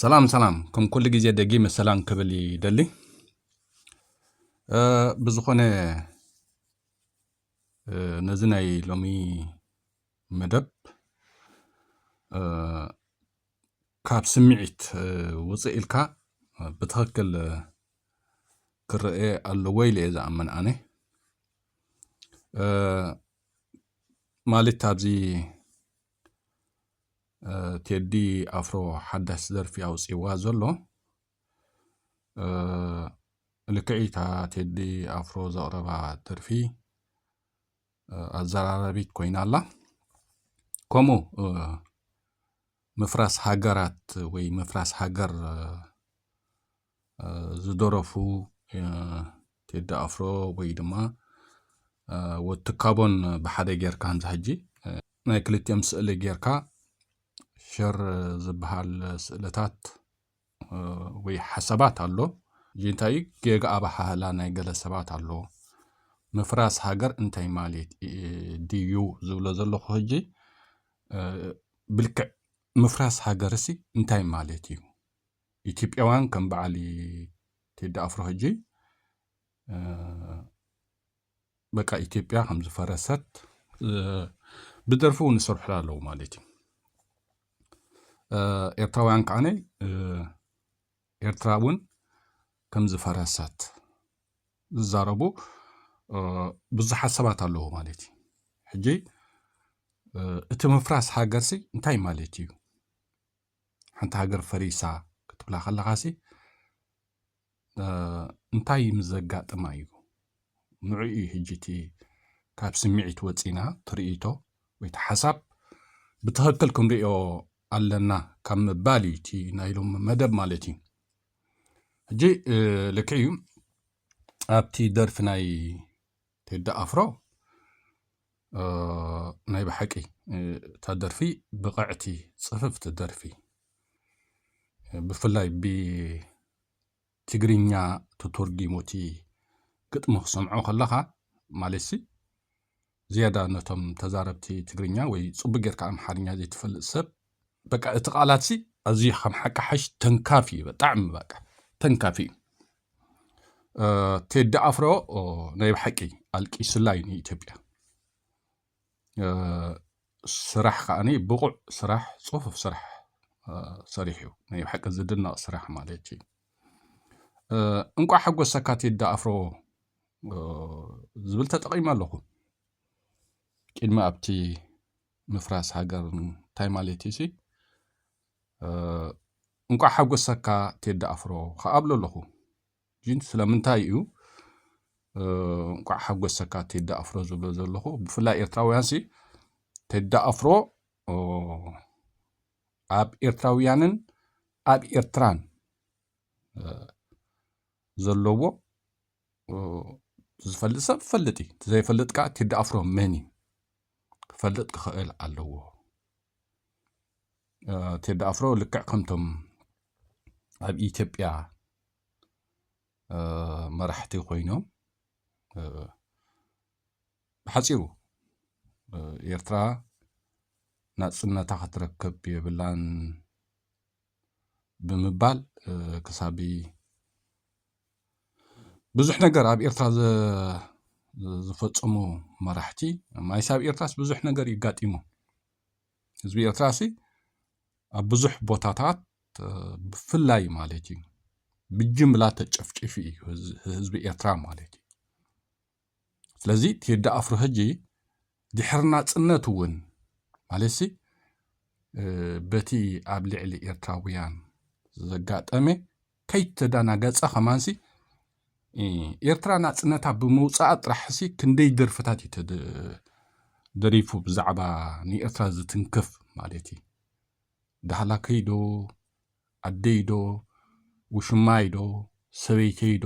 ሰላም ሰላም ከም ኩሉ ግዜ ደጊመ ሰላም ክብል ይደሊ ብዝኾነ ነዚ ናይ ሎሚ መደብ ካብ ስምዒት ውፅእ ኢልካ ብትኽክል ክረአ ኣለዎ ኢለ እየ ዝኣምን ኣነ ማለት ኣብዚ ቴዲ ኣፍሮ ሓዳሽ ደርፊ ኣውፂዋ ዘሎ ልክዒታ ቴዲ ኣፍሮ ዘቕረባ ደርፊ ኣዘራራቢት ኮይና ኣላ ከምኡ ምፍራስ ሃገራት ወይ ምፍራስ ሃገር ዝደረፉ ቴዲ ኣፍሮ ወይ ድማ ወዲ ትካቦን ብሓደ ጌርካ እንዛ ሕጂ ናይ ክልቲኦም ስእሊ ጌርካ ሸር ዝበሃል ስእልታት ወይ ሓሳባት ኣሎ እዚ እንታይ እዩ ጌጋ ኣበሃህላ ናይ ገለ ሰባት ኣሎ ምፍራስ ሃገር እንታይ ማለት ድዩ ዝብሎ ዘለኹ ሕጂ ብልክዕ ምፍራስ ሃገርሲ እንታይ ማለት እዩ ኢትዮጵያውያን ከም በዓል ቴዲ ኣፍሮ ሕጂ በቃ ኢትዮጵያ ከም ዝፈረሰት ብደርፊ እውን ይሰርሑላ ኣለዉ ማለት እዩ ኤርትራውያን ከዓነ ኤርትራ እውን ከም ዝፈረሰት ዝዛረቡ ብዙሓት ሰባት ኣለዉ ማለት እዩ ሕጂ እቲ ምፍራስ ሃገርሲ እንታይ ማለት እዩ ሓንቲ ሃገር ፈሪሳ ክትብላ ከለኻሲ እንታይ ምስ ዘጋጥማ እዩ ንዑ እዩ ሕጂ እቲ ካብ ስምዒት ወፂና ትርኢቶ ወይ ሓሳብ ብትኽክል ክንሪኦ ኣለና ካብ ምባል እዩ እቲ ናይ ሎም መደብ ማለት እዩ ሕጂ ልክዕ እዩ ኣብቲ ደርፊ ናይ ቴዲ ኣፍሮ ናይ ብሓቂ እታ ደርፊ ብቕዕቲ ጽፍፍቲ ደርፊ ብፍላይ ብትግርኛ ተተርጊሙ እቲ ግጥሚ ክሰምዖ ከለኻ ማለትሲ ዝያዳ ነቶም ተዛረብቲ ትግርኛ ወይ ጽቡቅ ጌርካ ኣምሓርኛ ዘይትፈልጥ ሰብ በቃ እቲ ቃላት ሲ ኣዝዩ ከም ሓቂ ሓሽ ተንካፊ እዩ ብጣዕሚ በቃ ተንካፊ እዩ ቴዲ ኣፍሮ ናይ ብሓቂ ኣልቂስላ እዩ ንኢትዮጵያ ስራሕ ከዓኒ ብቑዕ ስራሕ ፅፉፍ ስራሕ ሰሪሑ እዩ ናይ ብሓቂ ዝድነቕ ስራሕ ማለት እዩ እንቋዕ ሓጎሰካ ቴዲ ኣፍሮ ዝብል ተጠቒመ ኣለኹ ቅድሚ ኣብቲ ምፍራስ ሃገር እንታይ ማለት እዩ ሲ እንቋዕ ሓጎሰካ ቴዲ ኣፍሮ ከዓ ብሎ ኣለኹ ግን ስለምንታይ እዩ እንቋዕ ሓጎሰካ ቴዲ ኣፍሮ ዝብሎ ዘለኹ ብፍላይ ኤርትራውያን ሲ ቴዲ ኣፍሮ ኣብ ኤርትራውያንን ኣብ ኤርትራን ዘለዎ ዝፈልጥ ሰብ ፈልጥ እዩ እቲ ዘይፈልጥ ከዓ ቴዲ ኣፍሮ መን እዩ ክፈልጥ ክኽእል ኣለዎ ቴዲ ኣፍሮ ልክዕ ከምቶም ኣብ ኢትዮጵያ መራሕቲ ኮይኖም ብሓፂሩ ኤርትራ ናፅነታ ክትረክብ የብላን ብምባል ክሳብ ብዙሕ ነገር ኣብ ኤርትራ ዝፈፀሙ መራሕቲ ማይስ ኣብ ኤርትራስ ብዙሕ ነገር እዩ ኣጋጢሙ ህዝቢ ኤርትራ ሲ ኣብ ብዙሕ ቦታታት ብፍላይ ማለት እዩ ብጅምላ ተጨፍጪፉ እዩ ህዝቢ ኤርትራ ማለት እዩ። ስለዚ ቴዲ ኣፍሮ ሕጂ ድሕሪ ናጽነት እውን ማለትሲ በቲ ኣብ ልዕሊ ኤርትራውያን ዘጋጠመ ከይተዳናገጸ ከማንሲ ኤርትራ ናጽነታ ብምውጻኣ ጥራሕሲ ክንደይ ደርፍታት እዩ ደሪፉ ብዛዕባ ንኤርትራ ዝትንክፍ ማለት እዩ ዳህላከይዶ ኣደይዶ ውሽማይዶ ሰበይተይዶ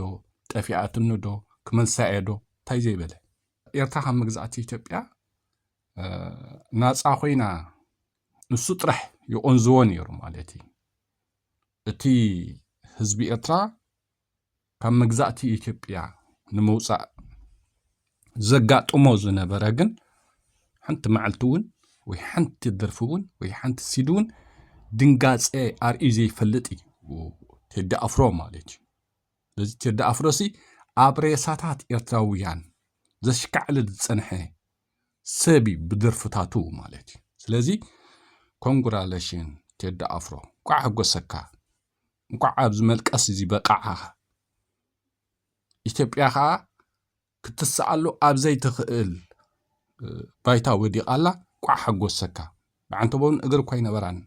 ጠፊኣትኒዶ ክመልሳ'የ'ዶ እንታይ ዘይበለ። ኤርትራ ካብ መግዛእቲ ኢትዮጵያ ናጻ ኮይና ንሱ ጥራሕ ይቖንዝዎ ነይሩ ማለት እዩ። እቲ ህዝቢ ኤርትራ ካብ መግዛእቲ ኢትዮጵያ ንምውፃእ ዘጋጥሞ ዝነበረ ግን ሓንቲ መዓልቲ እውን ወይ ሓንቲ ደርፊ እውን ወይ ሓንቲ ሲዲ እውን ድንጋፀ ኣርእዩ ዘይፈልጥ እዩ ቴዲ ኣፍሮ ማለት እዩ ስለዚ ቴዲ ኣፍሮ ሲ ኣብ ሬሳታት ኤርትራውያን ዘሽካዕሊ ዝፀንሐ ሰብ እዩ ብደርፍታቱ ማለት እዩ ስለዚ ኮንግራሌሽን ቴዲ ኣፍሮ ቋዕ ሓጎሰካ እንኳዕ ኣብዚ መልቀስ እዚ በቃዓኻ ኢትዮጵያ ከዓ ክትስኣሉ ኣብ ዘይትኽእል ባይታ ወዲቓ ኣላ ቋዕ ሓጎሰካ ብዓንተቦን እግሪ እኳ ይነበራን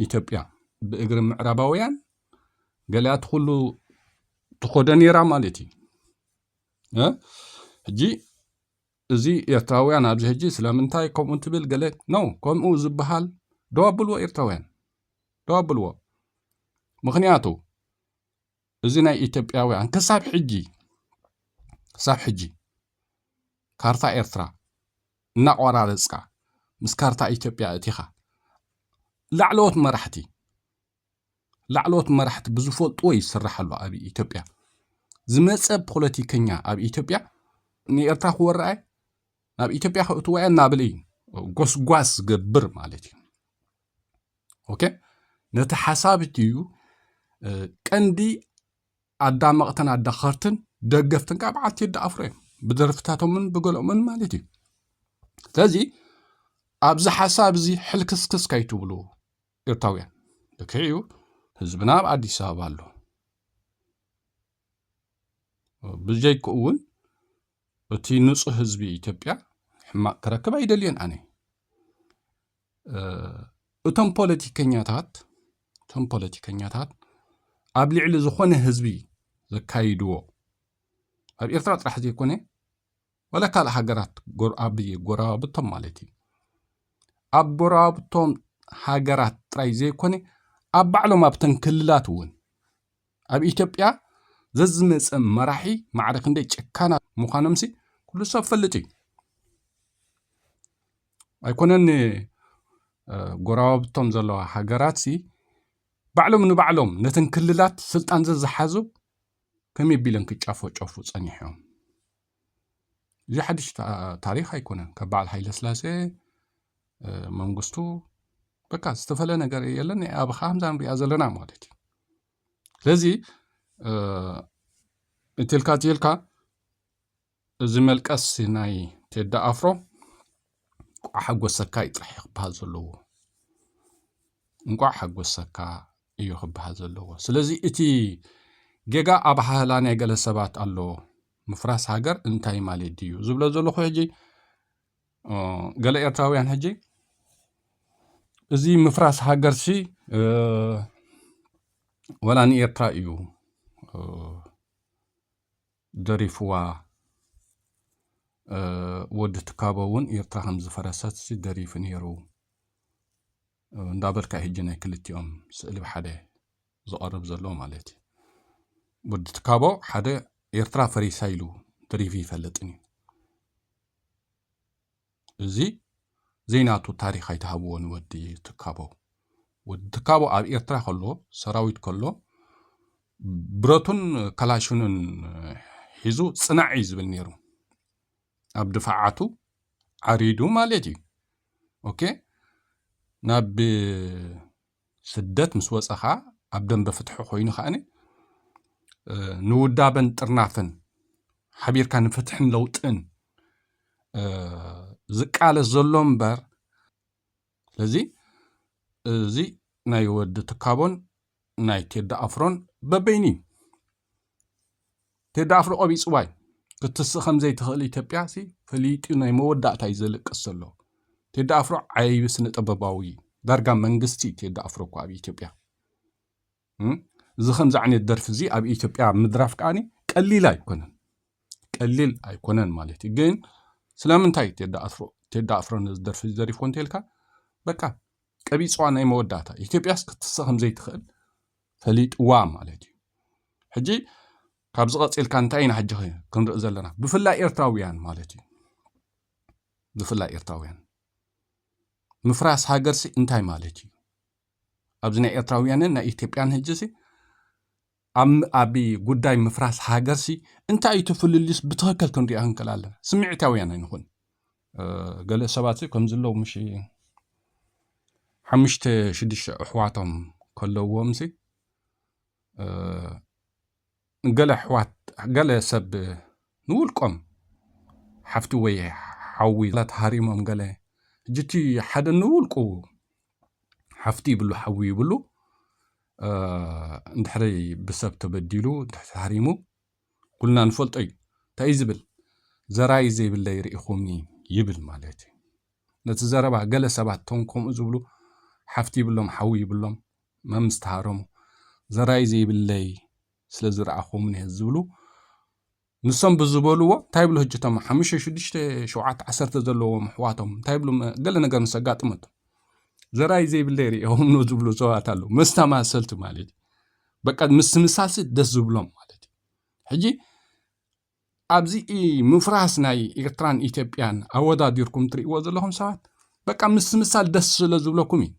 ኢትዮጵያ ብእግሪ ምዕራባውያን ገሊኣት ኩሉ ትኾደ ነይራ ማለት እዩ ሕጂ እዚ ኤርትራውያን ኣብዚ ሕጂ ስለምንታይ ከምኡ ትብል ገለ ነው ከምኡ ዝበሃል ደው ኣብልዎ ኤርትራውያን ደው ኣብልዎ ምክንያቱ እዚ ናይ ኢትዮጵያውያን ክሳብ ሕጂ ክሳብ ሕጂ ካርታ ኤርትራ እናቆራረፅካ ምስ ካርታ ኢትዮጵያ እቲኻ ላዕለዎት መራሕቲ ላዕለዎት መራሕቲ ብዝፈልጥዎ እዩ ዝስራሕ ኣሎ ኣብ ኢትዮጵያ ዝመፀ ፖለቲከኛ ኣብ ኢትዮጵያ ንኤርትራ ክወርኣ ናብ ኢትዮጵያ ከእትዋ እናበለ እዩ ጎስጓስ ዝገብር ማለት እዩ ኦኬ ነቲ ሓሳብ እዩ ቀንዲ ኣዳመቕትን ኣዳኸርትን ደገፍትን ካብ በዓልቲ ቴዲ ኣፍሮ እዮም ብደርፍታቶምን ብገሎምን ማለት እዩ ስለዚ ኣብዚ ሓሳብ እዚ ሕልክስክስ ከይትብሉ ኤርታውያን ልክዕ እዩ ህዝብና ኣብ ኣዲስ ኣበባ ኣሎ ብጀይክኡ እውን እቲ ንፁህ ህዝቢ ኢትዮጵያ ሕማቕ ክረክብ ኣይደልየን ኣነ እቶም ፖለቲከኛታት እቶም ፖለቲከኛታት ኣብ ልዕሊ ዝኾነ ህዝቢ ዘካይድዎ ኣብ ኤርትራ ጥራሕ ዘይኮነ ዋላ ካልእ ሃገራት ኣብ ጎረባብቶም ማለት እዩ ኣብ ጎረባብቶም ሃገራት ጥራይ ዘይኮነ ኣብ ባዕሎም ኣብተን ክልላት እውን ኣብ ኢትዮጵያ ዘዝመፀ መራሒ ማዕረ ክንደይ ጨካናት ምዃኖምሲ ኩሉ ሰብ ፈልጥ እዩ ኣይኮነን ጎረባብቶም ዘለዋ ሃገራትሲ ባዕሎም ንባዕሎም ነተን ክልላት ስልጣን ዘዝሓዙ ከመይ ቢሎም ክጫፈጨፉ ፀኒሖም እዚ ሓድሽ ታሪክ ኣይኮነን ካብ በዓል ሃይለስላሴ መንግስቱ በቃ ዝተፈለ ነገር የለን ኣብ ከምዛ ንሪኣ ዘለና ማለት እዩ ስለዚ እትልካ ትልካ እዚ መልቀስ ናይ ቴዲ ኣፍሮ እንቋዕ ሓጎሰካ እዩ ጥራሕ ክበሃል ዘለዎ እንቋዕ ሓጎሰካ እዩ ክበሃል ዘለዎ ስለዚ እቲ ጌጋ ኣባሃህላ ናይ ገለ ሰባት ኣሎ ምፍራስ ሃገር እንታይ ማለት ድዩ ዝብሎ ዘለኹ ሕጂ ገለ ኤርትራውያን ሕጂ እዚ ምፍራስ ሃገርሲ ወላ ንኤርትራ እዩ ደሪፍዋ ወዲ ትካቦ እውን ኤርትራ ከም ዝፈረሰት ሲ ደሪፉ ነይሩ እንዳበልካ እዩ ሕጂ ናይ ክልቲኦም ስእሊ ብሓደ ዝቐርብ ዘሎ ማለት እዩ ወዲ ትካቦ ሓደ ኤርትራ ፈሪሳ ኢሉ ደሪፉ ይፈልጥን እዩ እዚ ዘይናቱ ታሪኽ ኣይትሃብዎ ንወዲ ትካቦ። ወዲ ትካቦ ኣብ ኤርትራ ከሎ ሰራዊት ከሎ ብረቱን ከላሽኑን ሒዙ ጽናዕ እዩ ዝብል ነይሩ። ኣብ ድፋዓቱ ዓሪዱ ማለት እዩ። ኦኬ ናብ ስደት ምስ ወጸ ከኣ ኣብ ደንበ ፍትሒ ኮይኑ ከኣ ንውዳበን ጥርናፈን ሓቢርካ ንፍትሕን ለውጥን ዝቃለስ ዘሎ እምበር ስለዚ እዚ ናይ ወዲ ትካቦን ናይ ቴዲ ኣፍሮን በበይኑ እዩ ቴዲ ኣፍሮ ቆቢፅዋይ ክትስእ ከምዘይትኽእል ኢትዮጵያ ሲ ፈሊጡ ናይ መወዳእታ እዩ ዘልቅስ ዘሎ ቴዲ ኣፍሮ ዓይቢ ስነ ጥበባዊ እዩ ዳርጋ መንግስቲ እዩ ቴዲ ኣፍሮ እኮ ኣብ ኢትዮጵያ እም? እዚ ከምዚ ዓይነት ደርፊ እዚ ኣብ ኢትዮጵያ ምድራፍ ከዓኒ ቀሊል ኣይኮነን ቀሊል ኣይኮነን ማለት እዩ ግን ስለምንታይ እዩ ቴዲ ኣፍሮ ቴዲ ኣፍሮ ነዚ ደርፊ እዚ ዘሪፎ እንተልካ በቃ ቀቢፅዋ ናይ መወዳእታ ኢትዮጵያስ ክትስእ ከምዘይትኽእል ፈሊጥዋ ማለት እዩ ሕጂ ካብዚ ቀፂልካ እንታይ ኢና ሕጂ ክንርኢ ዘለና ብፍላይ ኤርትራውያን ማለት እዩ ብፍላይ ኤርትራውያን ምፍራስ ሃገርሲ እንታይ ማለት እዩ ኣብዚ ናይ ኤርትራውያንን ናይ ኢትዮጵያን ህጅሲ ኣብ ጉዳይ ምፍራስ ሃገርሲ እንታይ እዩ ተፍልልዩስ ብትኽክል ክንሪኦ ክንክእል ኣለና ስምዒታውያን ኣይንኹን ገለ ሰባት ከምዚ ኣለዉ ምሽ ሓሙሽተ ሽዱሽተ ኣሕዋቶም ከለውዎምሲ ገለ ኣሕዋት ገለ ሰብ ንውልቆም ሓፍቲ ወይ ሓዊ ተሃሪሞም ገለ ሕጂ እቲ ሓደ ንውልቁ ሓፍቲ ይብሉ ሓዊ ይብሉ እንድሕሪ ብሰብ ተበዲሉ እንድሕሪ ተሃሪሙ ኩልና ንፈልጦ እዩ እንታይ እዩ ዝብል ዘራይ ዘይብለይ ርኢኹምኒ ይብል ማለት እዩ ነቲ ዘረባ ገለ ሰባት ቶም ከምኡ ዝብሉ ሓፍቲ ይብሎም ሓዊ ይብሎም መም ዝተሃረሙ ዘራይ ዘይብለይ ስለ ዝረኣኹምኒ ዝብሉ ንሶም ብዝበልዎ እንታይ ብሉ ህጅቶም ሓሙሽተ ሽዱሽተ ሸውዓተ ዓሰርተ ዘለዎም ኣሕዋቶም እንታይ ብሉ ገለ ነገር ምስ ኣጋጥመቶም ዘራይ ዘይብለ ይርእዮም ን ዝብሉ ሰባት ኣለዉ መስተማሰልቲ ማለት እዩ በቃ ምስምሳልሲ ደስ ዝብሎም ማለት እዩ ሕጂ ኣብዚ ምፍራስ ናይ ኤርትራን ኢትዮጵያን ኣወዳዲርኩም ትርእይዎ ዘለኹም ሰባት በቃ ምስምሳል ደስ ስለ ዝብለኩም እዩ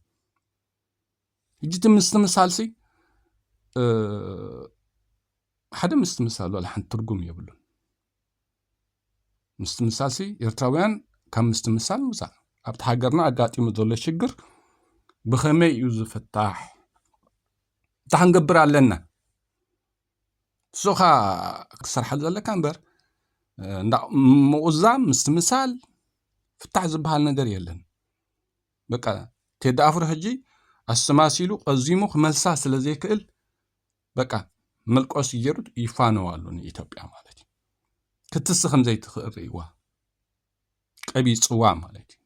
ሕጂ እቲ ምስትምሳልሲ ሓደ ምስትምሳል ዋላ ሓንቲ ትርጉም የብሉን ምስትምሳል ሲ ኤርትራውያን ካብ ምስትምሳል ንውፃእ ኣብቲ ሃገርና ኣጋጢሙ ዘሎ ሽግር ብኸመይ እዩ ዝፍታሕ እንታይ ክንገብር ኣለና ንስኻ ክትሰርሓሉ ዘለካ እምበር ምቑዛም ምስትምሳል ፍታሕ ዝበሃል ነገር የለን በቃ ቴዲ ኣፍሮ ሕጂ ኣስተማሲሉ ቀዚሙ ክመልሳ ስለ ዘይክእል በቃ መልቆሲ ገይሩ ይፋነው ኣሎ ንኢትዮጵያ ማለት እዩ ክትስ ከም ዘይትኽእል ርእይዋ ቀቢፅዋ ማለት እዩ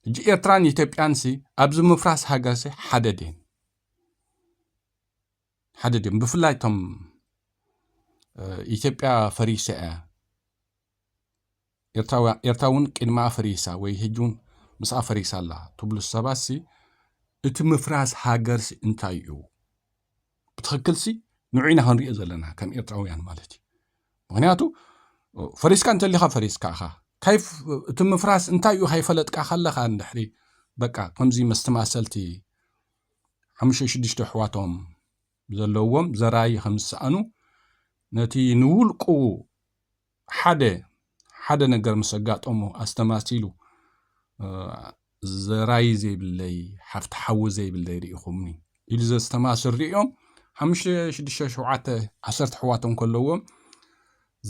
ሕጂ ኤርትራን ኢትዮጵያን ሲ ኣብዚ ምፍራስ ሃገር ሲ ሓደ ድየን ሓደ ድዮም ብፍላይ እቶም ኢትዮጵያ ፈሪሰ እያ ኤርትራውያን ኤርትራውን ቅድሚ ኣፈሪሳ ወይ ህጅውን ምስ ኣፈሪሳ ኣላ ትብሉ ሰባትሲ እቲ ምፍራስ ሃገርሲ እንታይ እዩ ብትኽክልሲ ንዑ ኢና ክንሪኦ ዘለና ከም ኤርትራውያን ማለት እዩ ምክንያቱ ፈሪስካ እንተሊኻ ፈሪስካ ኢኻ ካይ እቲ ምፍራስ እንታይ እዩ ካይፈለጥካ ከለኻ እንድሕሪ በቃ ከምዚ መስተማሰልቲ ሓሙሽተ ሽዱሽተ ኣሕዋቶም ዘለዎም ዘራይ ከም ዝሰኣኑ ነቲ ንውልቁ ሓደ ሓደ ነገር ምስ ኣጋጠሞ ኣስተማሲሉ ዘራይ ዘይብለይ ሓፍቲ ሓዊ ዘይብለይ ርኢኹምኒ ኢሉ ዘስተማስል ሪኦም ሓሙሽተ ሽዱሽተ ሸውዓተ ዓሰርተ ኣሕዋቶም ከለዎም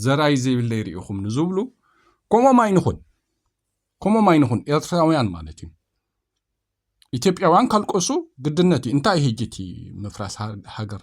ዘራይ ዘይብለይ ርኢኹም ንዝብሉ ከምኦም ኣይንኹን ከምኦም ኣይንኹን ኤርትራውያን ማለት እዩ ኢትዮጵያውያን ካልቀሱ ግድነት እዩ እንታይ ህጂ እቲ ምፍራስ ሃገር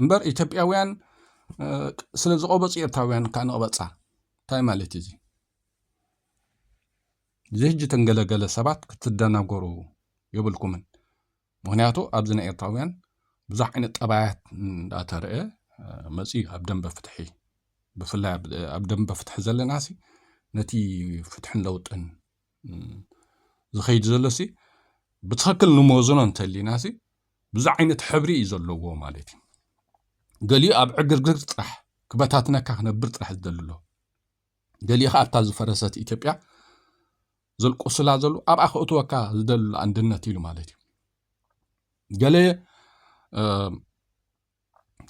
እምበር ኢትዮጵያውያን ስለ ዝቐበፁ ኤርትራውያን ከዓ ንቐበፃ እንታይ ማለት እዩ እዚ እዚ ሕጂ ተንገለገለ ሰባት ክትደናገሩ የብልኩምን ምክንያቱ ኣብዚ ናይ ኤርትራውያን ብዙሕ ዓይነት ጠባያት እንዳተረአ መፅኡ ኣብ ደንበ ፍትሒ ብፍላይ ኣብ ደንበ ፍትሒ ዘለና ሲ ነቲ ፍትሕን ለውጥን ዝኸይድ ዘሎ ሲ ብትክክል ንመዝኖ እንተሊና ሲ ብዙሕ ዓይነት ሕብሪ እዩ ዘለዎ ማለት እዩ። ገሊኡ ኣብ ዕግርግር ጥራሕ ክበታትነካ ክነብር ጥራሕ ዝደሊ ኣሎ። ገሊኡ ከዓ ኣብታ ዝፈረሰት ኢትዮጵያ ዘልቁስላ ዘሉ ኣብኣ ክእትወካ ዝደሊ ኣሎ ኣንድነት ኢሉ ማለት እዩ። ገለ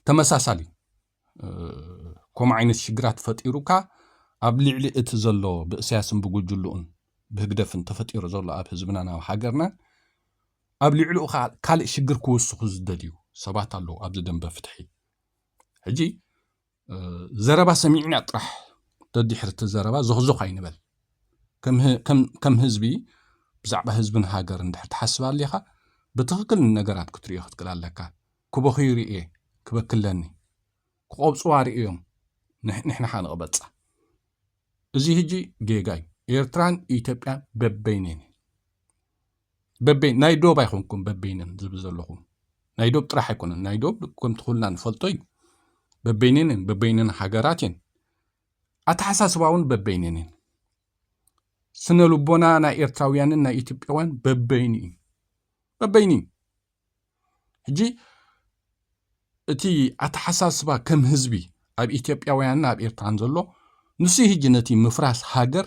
ተመሳሳሊ ከምኡ ዓይነት ሽግራት ፈጢሩካ ኣብ ልዕሊ እቲ ዘሎ ብእስያስን ብጉጅልኡን ብህግደፍን ተፈጢሩ ዘሎ ኣብ ህዝብናን ኣብ ሃገርናን ኣብ ልዕሊኡ ከዓ ካልእ ሽግር ክውስኹ ዝደልዩ ሰባት ኣለዉ ኣብዚ ደንበ ፍትሒ ሕጂ ዘረባ ሰሚዕና ጥራሕ ደድሕሪ እቲ ዘረባ ዞኽዞኽ ኣይንበል ከም ህዝቢ ብዛዕባ ህዝብን ሃገርን ድሕር ትሓስብ ኣሊኻ ብትኽክል ነገራት ክትሪኦ ክትክእል ኣለካ ክበኽዩ ርእየ ክበኪ ኣለኒ ክቆብጽዋ ርእዮም ንሕና ከኣ ንቅበጻ እዚ ህጂ ጌጋ እዩ ኤርትራን ኢትዮጵያን በበይነን በበይ ናይ ዶብ ኣይኮንኩም በበይነን ዝብል ዘለኹም ናይ ዶብ ጥራሕ ኣይኮነን ናይ ዶብ ከምቲ ኩልና ንፈልጦ እዩ በበይነን እየን በበይነን ሃገራት እየን ኣተሓሳስባ እውን በበይነን እየን ስነ ልቦና ናይ ኤርትራውያንን ናይ ኢትዮጵያውያን በበይኑ እዩ በበይኑ እዩ ሕጂ እቲ ኣተሓሳስባ ከም ህዝቢ ኣብ ኢትዮጵያውያንን ኣብ ኤርትራን ዘሎ ንሱ ህጂ ነቲ ምፍራስ ሃገር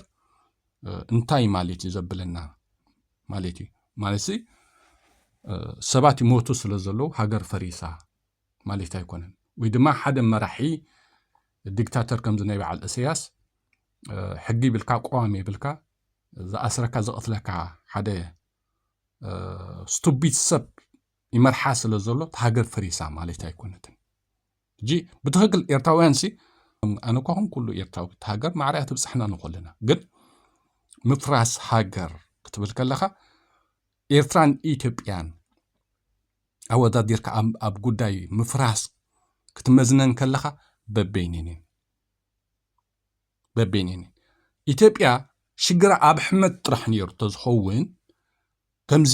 እንታይ ማለት እዩ ዘብለና ማለት እዩ ማለት ሰባት ይሞቱ ስለ ዘለዉ ሃገር ፈሪሳ ማለት ኣይኮነን ወይ ድማ ሓደ መራሒ ዲክታተር ከምዚ ናይ በዓል እሰያስ ሕጊ ይብልካ ቆዋም ይብልካ ዝኣስረካ ዘቕትለካ ሓደ ስቱቢት ሰብ ይመርሓ ስለ ዘሎ እቲ ሃገር ፈሪሳ ማለት ኣይኮነትን እጂ ብትኽክል ኤርትራውያን ሲ ኣነ እኳ ኹን ኩሉ ኤርትራዊ እቲ ሃገር ማዕርያ ትብፅሕና ንኾለና ግን ምፍራስ ሃገር ክትብል ከለኻ ኤርትራን ኢትዮጵያን ኣወዳዲርካ ኣብ ጉዳይ ምፍራስ ክትመዝነን ከለኻ በበይኒን በቤኒን ኢትዮጵያ ሽግራ ኣብ ሕመት ጥራሕ ነይሩ ተዝኸውን ከምዚ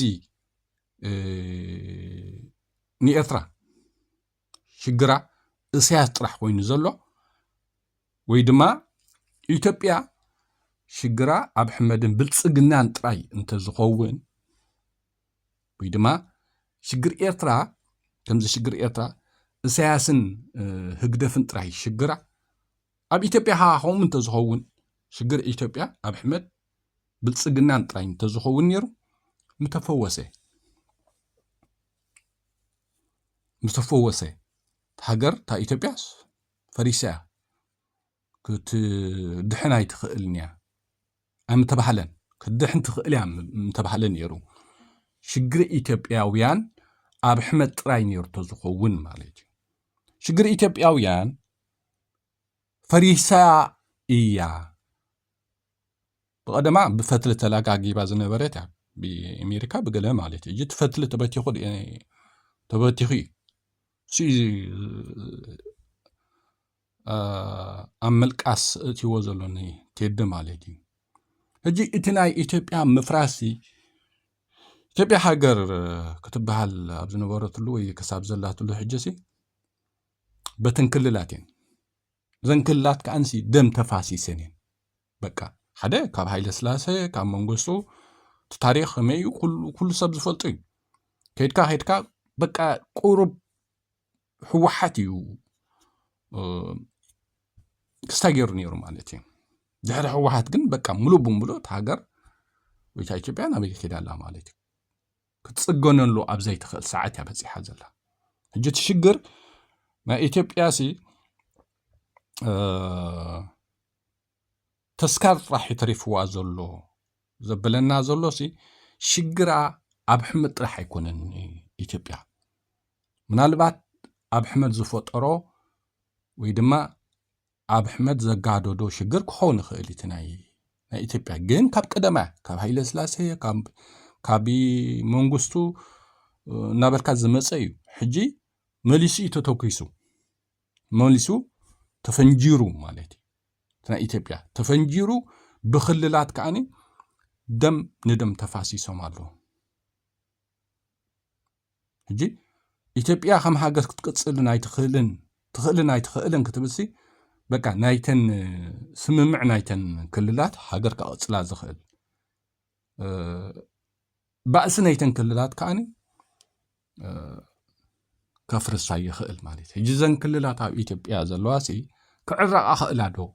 ንኤርትራ ሽግራ እሳያስ ጥራሕ ኮይኑ ዘሎ ወይ ድማ ኢትዮጵያ ሽግራ ኣብ ሕመድን ብልፅግናን ጥራይ እንተዝኸውን ወይ ድማ ሽግር ኤርትራ ከምዚ ሽግር ኤርትራ እሳያስን ህግደፍን ጥራይ ሽግራ ኣብ ኢትዮጵያ ከኣ ከምኡ እንተዝኸውን ሽግር ኢትዮጵያ ኣብ ሕመድ ብልጽግናን ጥራይ እንተዝኸውን ነይሩ ምተፈወሰ ምተፈወሰ ሃገር እታ ኢትዮጵያስ ፈሪሳ እያ ክትድሕን ኣይትኽእልን እያ ኣይምተባህለን ክትድሕን ትኽእል እያ ምተባህለ ነይሩ ሽግሪ ኢትዮጵያውያን ኣብ ሕመድ ጥራይ ነይሩ ተዝኸውን ማለት እዩ ሽግሪ ኢትዮጵያውያን ፈሪሳ እያ ብቐደማ ብፈትሊ ተላጋጊባ ዝነበረት እያ ብኣሜሪካ ብገለ ማለት እዩ እቲ ፈትሊ ተበቲኹ ተበቲኹ እዩ ኣብ ምልቃስ እትዎ ዘሎኒ ቴዲ ማለት እዩ ሕጂ እቲ ናይ ኢትዮጵያ ምፍራስ ኢትዮጵያ ሃገር ክትበሃል ኣብ ዝነበረትሉ ወይ ክሳብ ዘላትሉ ሕጂ ሲ በተን ክልላት እየን እዘን ክልላት ከዓ ንሲ ደም ተፋሲሰን እየን በቃ ሓደ ካብ ሃይለ ስላሰ ካብ መንግስቱ እቲ ታሪክ ከመይ እዩ ኩሉ ሰብ ዝፈልጡ እዩ ከድካ ከድካ በቃ ቁሩብ ህወሓት እዩ ክስታይ ገይሩ ነይሩ ማለት እዩ ድሕሪ ህወሓት ግን በቃ ሙሉእ ብምሉእ ሃገር ወይታ ኢትዮጵያ ናበይ ኬዳ ኣላ ማለት እዩ ክትጽገነሉ ኣብ ዘይትኽእል ሰዓት እያ በጺሓ ዘላ ሕጂ እቲ ሽግር ናይ ኢትዮጵያሲ ተስካር ጥራሕ ይተሪፍዋ ዘሎ ዘብለና ዘሎ ሲ ሽግራ ኣብ ሕመድ ጥራሕ ኣይኮነን ኢትዮጵያ ምናልባት ኣብ ሕመድ ዝፈጠሮ ወይ ድማ ኣብሕመድ ዘጋደዶ ሽግር ክኸውን ይኽእል እቲ ናይ ናይ ኢትዮጵያ ግን ካብ ቀደማ ካብ ሃይለ ስላሴ ካብ መንግስቱ እናበልካ ዝመፀ እዩ ሕጂ መሊሱ እዩ ተተኪሱ መሊሱ ተፈንጂሩ ማለት እዩ እቲ ናይ ኢትዮጵያ ተፈንጂሩ ብክልላት ከዓኒ ደም ንደም ተፋሲሶም ኣለዉ ሕጂ ኢትዮጵያ ከም ሃገር ክትቅፅልን ኣይትኽእልን ትኽእልን ኣይትኽእልን ክትብልሲ በቃ ናይተን ስምምዕ ናይተን ክልላት ሃገር ከቐፅላ ዝኽእል ባእሲ ናይተን ክልላት ከዓኒ ከፍርሳ ይኽእል ማለት እዩ ሕጂ ዘን ክልላት ኣብ ኢትዮጵያ ዘለዋ ሲ ክዕረቓ ኽእላ ዶ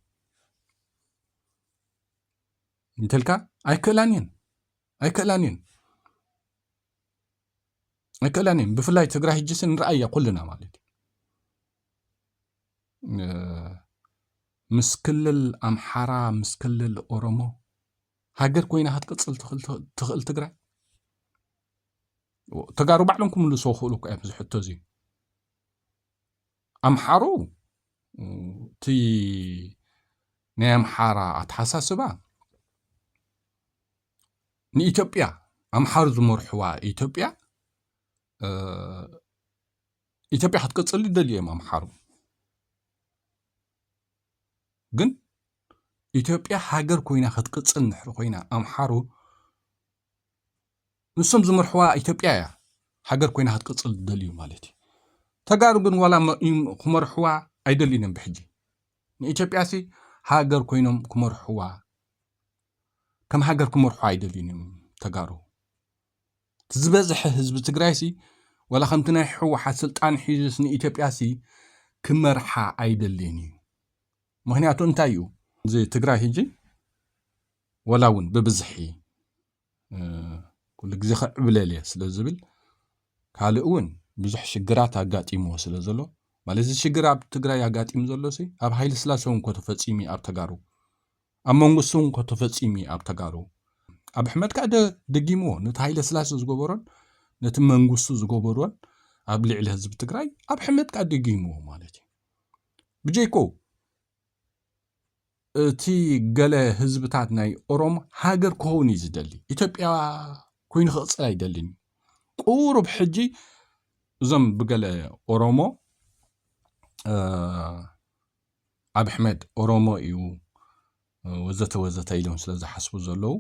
እንተልካ ኣይክእላን እየን ኣይክእላን እየን ኣይክእላን እየን ብፍላይ ትግራይ ሕጅስ ንርኣያ ኩልና ማለት እዩ ምስ ክልል ኣምሓራ ምስ ክልል ኦሮሞ ሃገር ኮይና ክትቅፅል ትኽእል ትግራይ ተጋሩ ባዕሎም ክምልስዎ ክኽእሉ እኮ እዮም እዚ ሕቶ እዚ ኣምሓሩ እቲ ናይ ኣምሓራ ኣተሓሳስባ ንኢትዮጵያ ኣምሓሩ ዝመርሕዋ ኢትዮጵያ ኢትዮጵያ ክትቅፅል ይደልዩ እዮም ኣምሓሩ ግን ኢትዮጵያ ሃገር ኮይና ክትቅፅል ንሕሪ ኮይና ኣምሓሩ ንሶም ዝመርሕዋ ኢትዮጵያ እያ ሃገር ኮይና ክትቅፅል ዝደልዩ ማለት እዩ። ተጋሩ ግን ዋላ ክመርሕዋ ኣይደልዩን እዮም ብሕጂ ንኢትዮጵያሲ ሃገር ኮይኖም ክመርሕዋ ከም ሃገር ክመርሑ ኣይደልዩን እዮም ተጋሩ እቲ ዝበዝሐ ህዝቢ ትግራይ ሲ ወላ ከምቲ ናይ ሕወሓት ስልጣን ሒዙስ ንኢትዮጵያ ሲ ክመርሓ ኣይደልን እዩ ምክንያቱ እንታይ እዩ እዚ ትግራይ ህጂ ወላ እውን ብብዝሒ ኩሉ ግዜ ክዕብለል እየ ስለ ዝብል ካልእ እውን ብዙሕ ሽግራት ኣጋጢምዎ ስለ ዘሎ ማለት እዚ ሽግር ኣብ ትግራይ ኣጋጢሙ ዘሎ ሲ ኣብ ሃይለ ስላሴ እውን ከተፈፂሙ ኣብ ተጋሩ ኣብ መንግስቱ እውን ከተፈፂሙ ኣብ ተጋሩ ኣብ ሕመድ ከዓ ደጊምዎ ነቲ ሃይለ ስላሴ ዝገበሮን ነቲ መንግስቱ ዝገበሮን ኣብ ልዕሊ ህዝቢ ትግራይ ኣብ ሕመድ ከዓ ደጊምዎ ማለት እዩ ብጀይኮ እቲ ገለ ህዝብታት ናይ ኦሮም ሃገር ክኸውን እዩ ዝደሊ ኢትዮጵያ ኮይኑ ክቕፅል ኣይደልን እዩ ቁሩብ ሕጂ እዞም ብገለ ኦሮሞ ኣብ ኣሕመድ ኦሮሞ እዩ ወዘተ ወዘተ ኢሎም ስለ ዝሓስቡ ዘለዉ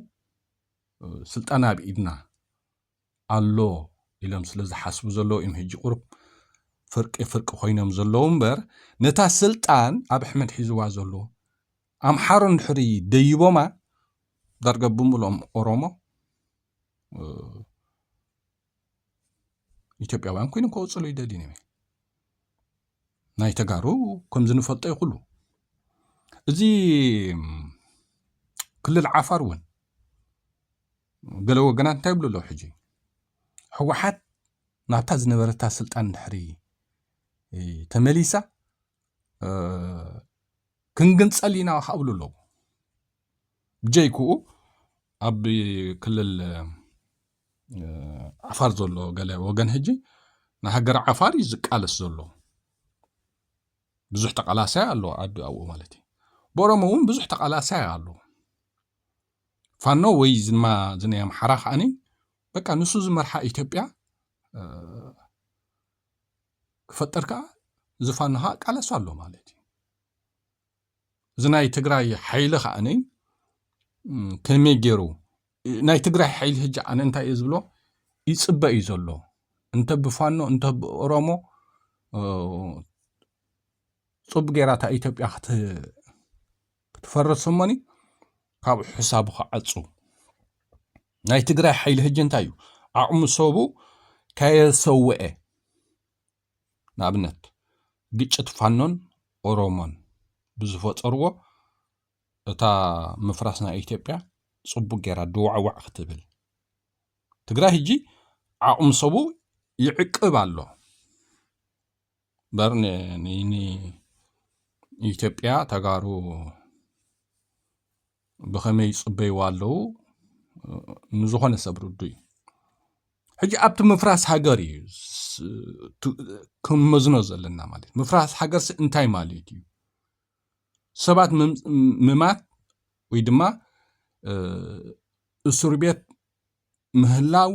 ስልጣን ኣብ ኢድና ኣሎ ኢሎም ስለ ዝሓስቡ ዘለዉ እዮም ሕጂ ቁሩብ ፍርቂ ፍርቂ ኮይኖም ዘለዉ እምበር ነታ ስልጣን ኣብ ኣሕመድ ሒዝዋ ዘሎ ኣምሓሩ እንድሕሪ ደይቦማ ዳርጋ ብምልኦም ኦሮሞ ኢትዮጵያውያን ኮይኖም ከወፅሉ ይደልዩ ነይሩ ናይ ተጋሩ ከምዚ ንፈልጦ ይኹሉ እዚ ክልል ዓፋር እውን ገለ ወገናት እንታይ ይብሉ ኣለዉ ሕጂ ህወሓት ናብታ ዝነበረታ ስልጣን ድሕሪ ተመሊሳ ክንግንፀል ኢና ካብ ብሉ ኣለዉ ብጀይክኡ ኣብ ክልል ዓፋር ዘሎ ገለ ወገን ሕጂ ንሃገር ዓፋር እዩ ዝቃለስ ዘሎ ብዙሕ ተቃላሳይ ኣሎ ኣብኡ ማለት እዩ ብኦሮሞ እውን ብዙሕ ተቃላሳይ ኣሎ ፋኖ ወይ ዝማ ዝናይ ኣምሓራ ከዓኒ በቃ ንሱ ዝመርሓ ኢትዮጵያ ክፈጠር ከዓ እዚ ፋኖ ከዓ ቃለሱ ኣሎ ማለት እዩ እዚ ናይ ትግራይ ሓይሊ ከዓኒ ከመይ ገይሩ ናይ ትግራይ ሓይሊ ህጂ ኣነ እንታይ እዩ ዝብሎ ይፅበ እዩ ዘሎ እንተ ብፋኖ እንተ ብኦሮሞ ፅቡቅ ጌራ እታ ኢትዮጵያ ክትፈርስ እሞኒ ካብኡ ሕሳቡ ክዓጹ ናይ ትግራይ ሓይሊ ህጂ እንታይ እዩ ዓቕሙ ሰቡ ከየሰውኤ ንኣብነት ግጭት ፋኖን ኦሮሞን ብዝፈጠርዎ እታ ምፍራስ ናይ ኢትዮጵያ ጽቡቅ ጌራ ድዋዕዋዕ ክትብል ትግራይ ህጂ ዓቕሙ ሰቡ ይዕቅብ ኣሎ እምበር ንኢትዮጵያ ተጋሩ ብኸመይ ይፅበይዋ ኣለዉ ንዝኾነ ሰብ ርዱእ እዩ ሕጂ ኣብቲ ምፍራስ ሃገር እዩ ክንመዝኖ ዘለና ማለት እዩ ምፍራስ ሃገርሲ እንታይ ማለት እዩ ሰባት ምማት ወይ ድማ እስር ቤት ምህላው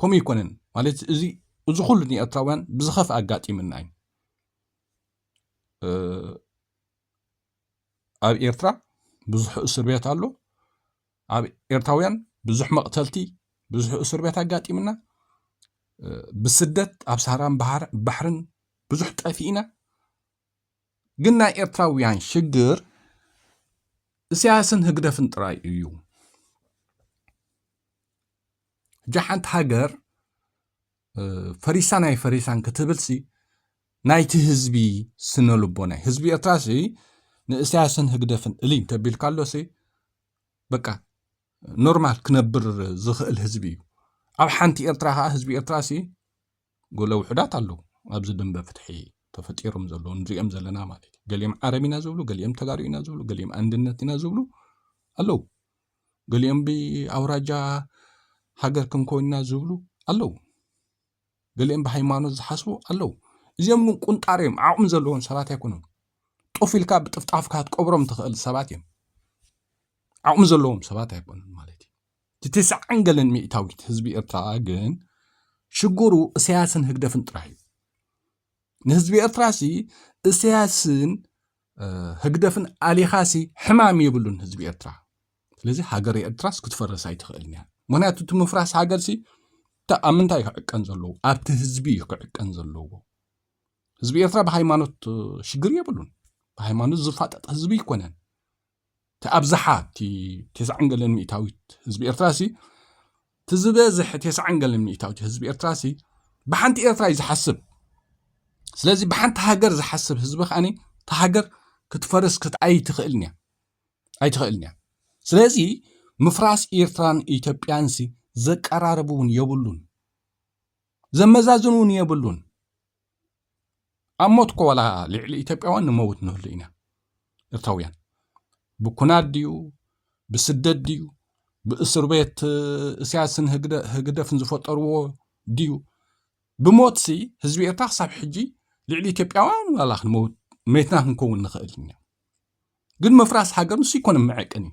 ከምኡ ኣይኮነን ማለት እዚ እዚ ኩሉ ንኤርትራውያን ብዝኸፍእ ኣጋጢምና እዩ ኣብ ኤርትራ ብዙሕ እስር ቤት ኣሎ ኣብ ኤርትራውያን ብዙሕ መቕተልቲ ብዙሕ እስር ቤት ኣጋጢምና ብስደት ኣብ ሳራን ባሕርን ብዙሕ ጠፊእና ግን ናይ ኤርትራውያን ሽግር እስያስን ህግደፍን ጥራይ እዩ ሕጂ ሓንቲ ሃገር ፈሪሳን ኣይፈሪሳን ክትብልሲ ናይቲ ህዝቢ ስነ ልቦና እዩ ህዝቢ ኤርትራ ሲ ንእስያስን ህግደፍን እሊ እንተቢልካ ኣሎሲ በቃ ኖርማል ክነብር ዝኽእል ህዝቢ እዩ ኣብ ሓንቲ ኤርትራ ከዓ ህዝቢ ኤርትራ ሲ ጎለ ውሑዳት ኣለዉ ኣብዚ ድንበ ፍትሒ ተፈጢሮም ዘለዉ ንሪኦም ዘለና ማለት እዩ ገሊኦም ዓረብ ኢና ዝብሉ ገሊኦም ተጋሩ ኢና ዝብሉ ገሊኦም ኣንድነት ኢና ዝብሉ ኣለዉ ገሊኦም ብኣውራጃ ሃገር ክንኮይንና ዝብሉ ኣለዉ ገሊኦም ብሃይማኖት ዝሓስቡ ኣለዉ እዚኦም ግን ቁንጣር እዮም ዓቕሚ ዘለዎም ሰባት ኣይኮኑን ጡፍ ኢልካ ብጥፍጣፍካ ትቀብሮም ትኽእል ሰባት እዮም ዓቕሚ ዘለዎም ሰባት ኣይኮኑን ማለት እዩ እቲ ትስዓን ገለን ሚእታዊት ህዝቢ ኤርትራ ግን ሽግሩ እሰያስን ህግደፍን ጥራሕ እዩ ንህዝቢ ኤርትራ ሲ እሰያስን ህግደፍን ኣሊኻሲ ሕማም የብሉን ህዝቢ ኤርትራ ስለዚ ሃገር ኤርትራስ ክትፈርስ ኣይትኽእልን እያ ምክንያቱ እቲ ምፍራስ ሃገርሲ ኣብ ምንታይ እዩ ክዕቀን ዘለዎ ኣብቲ ህዝቢ እዩ ክዕቀን ዘለዎ ህዝቢ ኤርትራ ብሃይማኖት ሽግር የብሉን ብሃይማኖት ዝፋጠጥ ህዝቢ ኣይኮነን እቲ ኣብዝሓ እቲ ቴስዓን ገለን ሚእታዊት ህዝቢ ኤርትራሲ እቲ ዝበዝሐ ቴስዓን ገለን ሚእታዊት ህዝቢ ኤርትራሲ ብሓንቲ ኤርትራ እዩ ዝሓስብ ስለዚ ብሓንቲ ሃገር ዝሓስብ ህዝቢ ከዓኒ እቲ ሃገር ክትፈርስ ክትኣይትኽእልን እያ ኣይትኽእልን እያ ስለዚ ምፍራስ ኤርትራን ኢትዮጵያንሲ ዘቀራርብ እውን የብሉን ዘመዛዝን እውን የብሉን ኣብ ሞት እኮ ዋላ ልዕሊ ኢትዮጵያውያን ንመውት ንህሉ ኢና ኤርትራውያን ብኩናት ድዩ ብስደት ድዩ ብእስር ቤት እስያስን ህግደፍን ዝፈጠርዎ ድዩ ብሞት ሲ ህዝቢ ኤርትራ ክሳብ ሕጂ ልዕሊ ኢትዮጵያውያን ዋላ ክንመውት መትና ክንከውን ንኽእል ኢና ግን ምፍራስ ሃገር ንሱ ይኮነ መዐቀኒ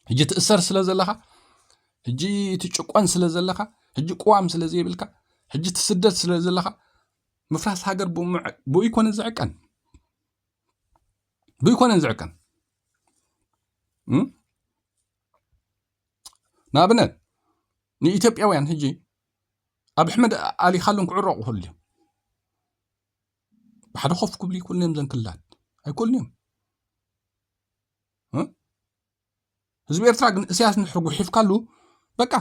ሕጂ ትእሰር ስለ ዘለኻ ሕጂ ትጭቆን ስለ ዘለኻ ሕጂ ቅዋም ስለ ዘይብልካ ሕጂ ትስደድ ስለ ዘለኻ ምፍራስ ሃገር ብኡ ይኮነ ዝዕቀን ብኡ ይኮነን ዝዕቀን ንኣብነት ንኢትዮጵያውያን ሕጂ ኣብ ኣሕመድ ኣሊ ካሉን ክዕረቑ ከሉ እዮም ብሓደ ኮፍ ክብሉ ይክእሉ እዮም ዘን ክልላት ኣይክእሉን እዮም ህዝቢ ኤርትራ ግን እስያስ ንድሕሪ ጉሒፍካሉ በቃ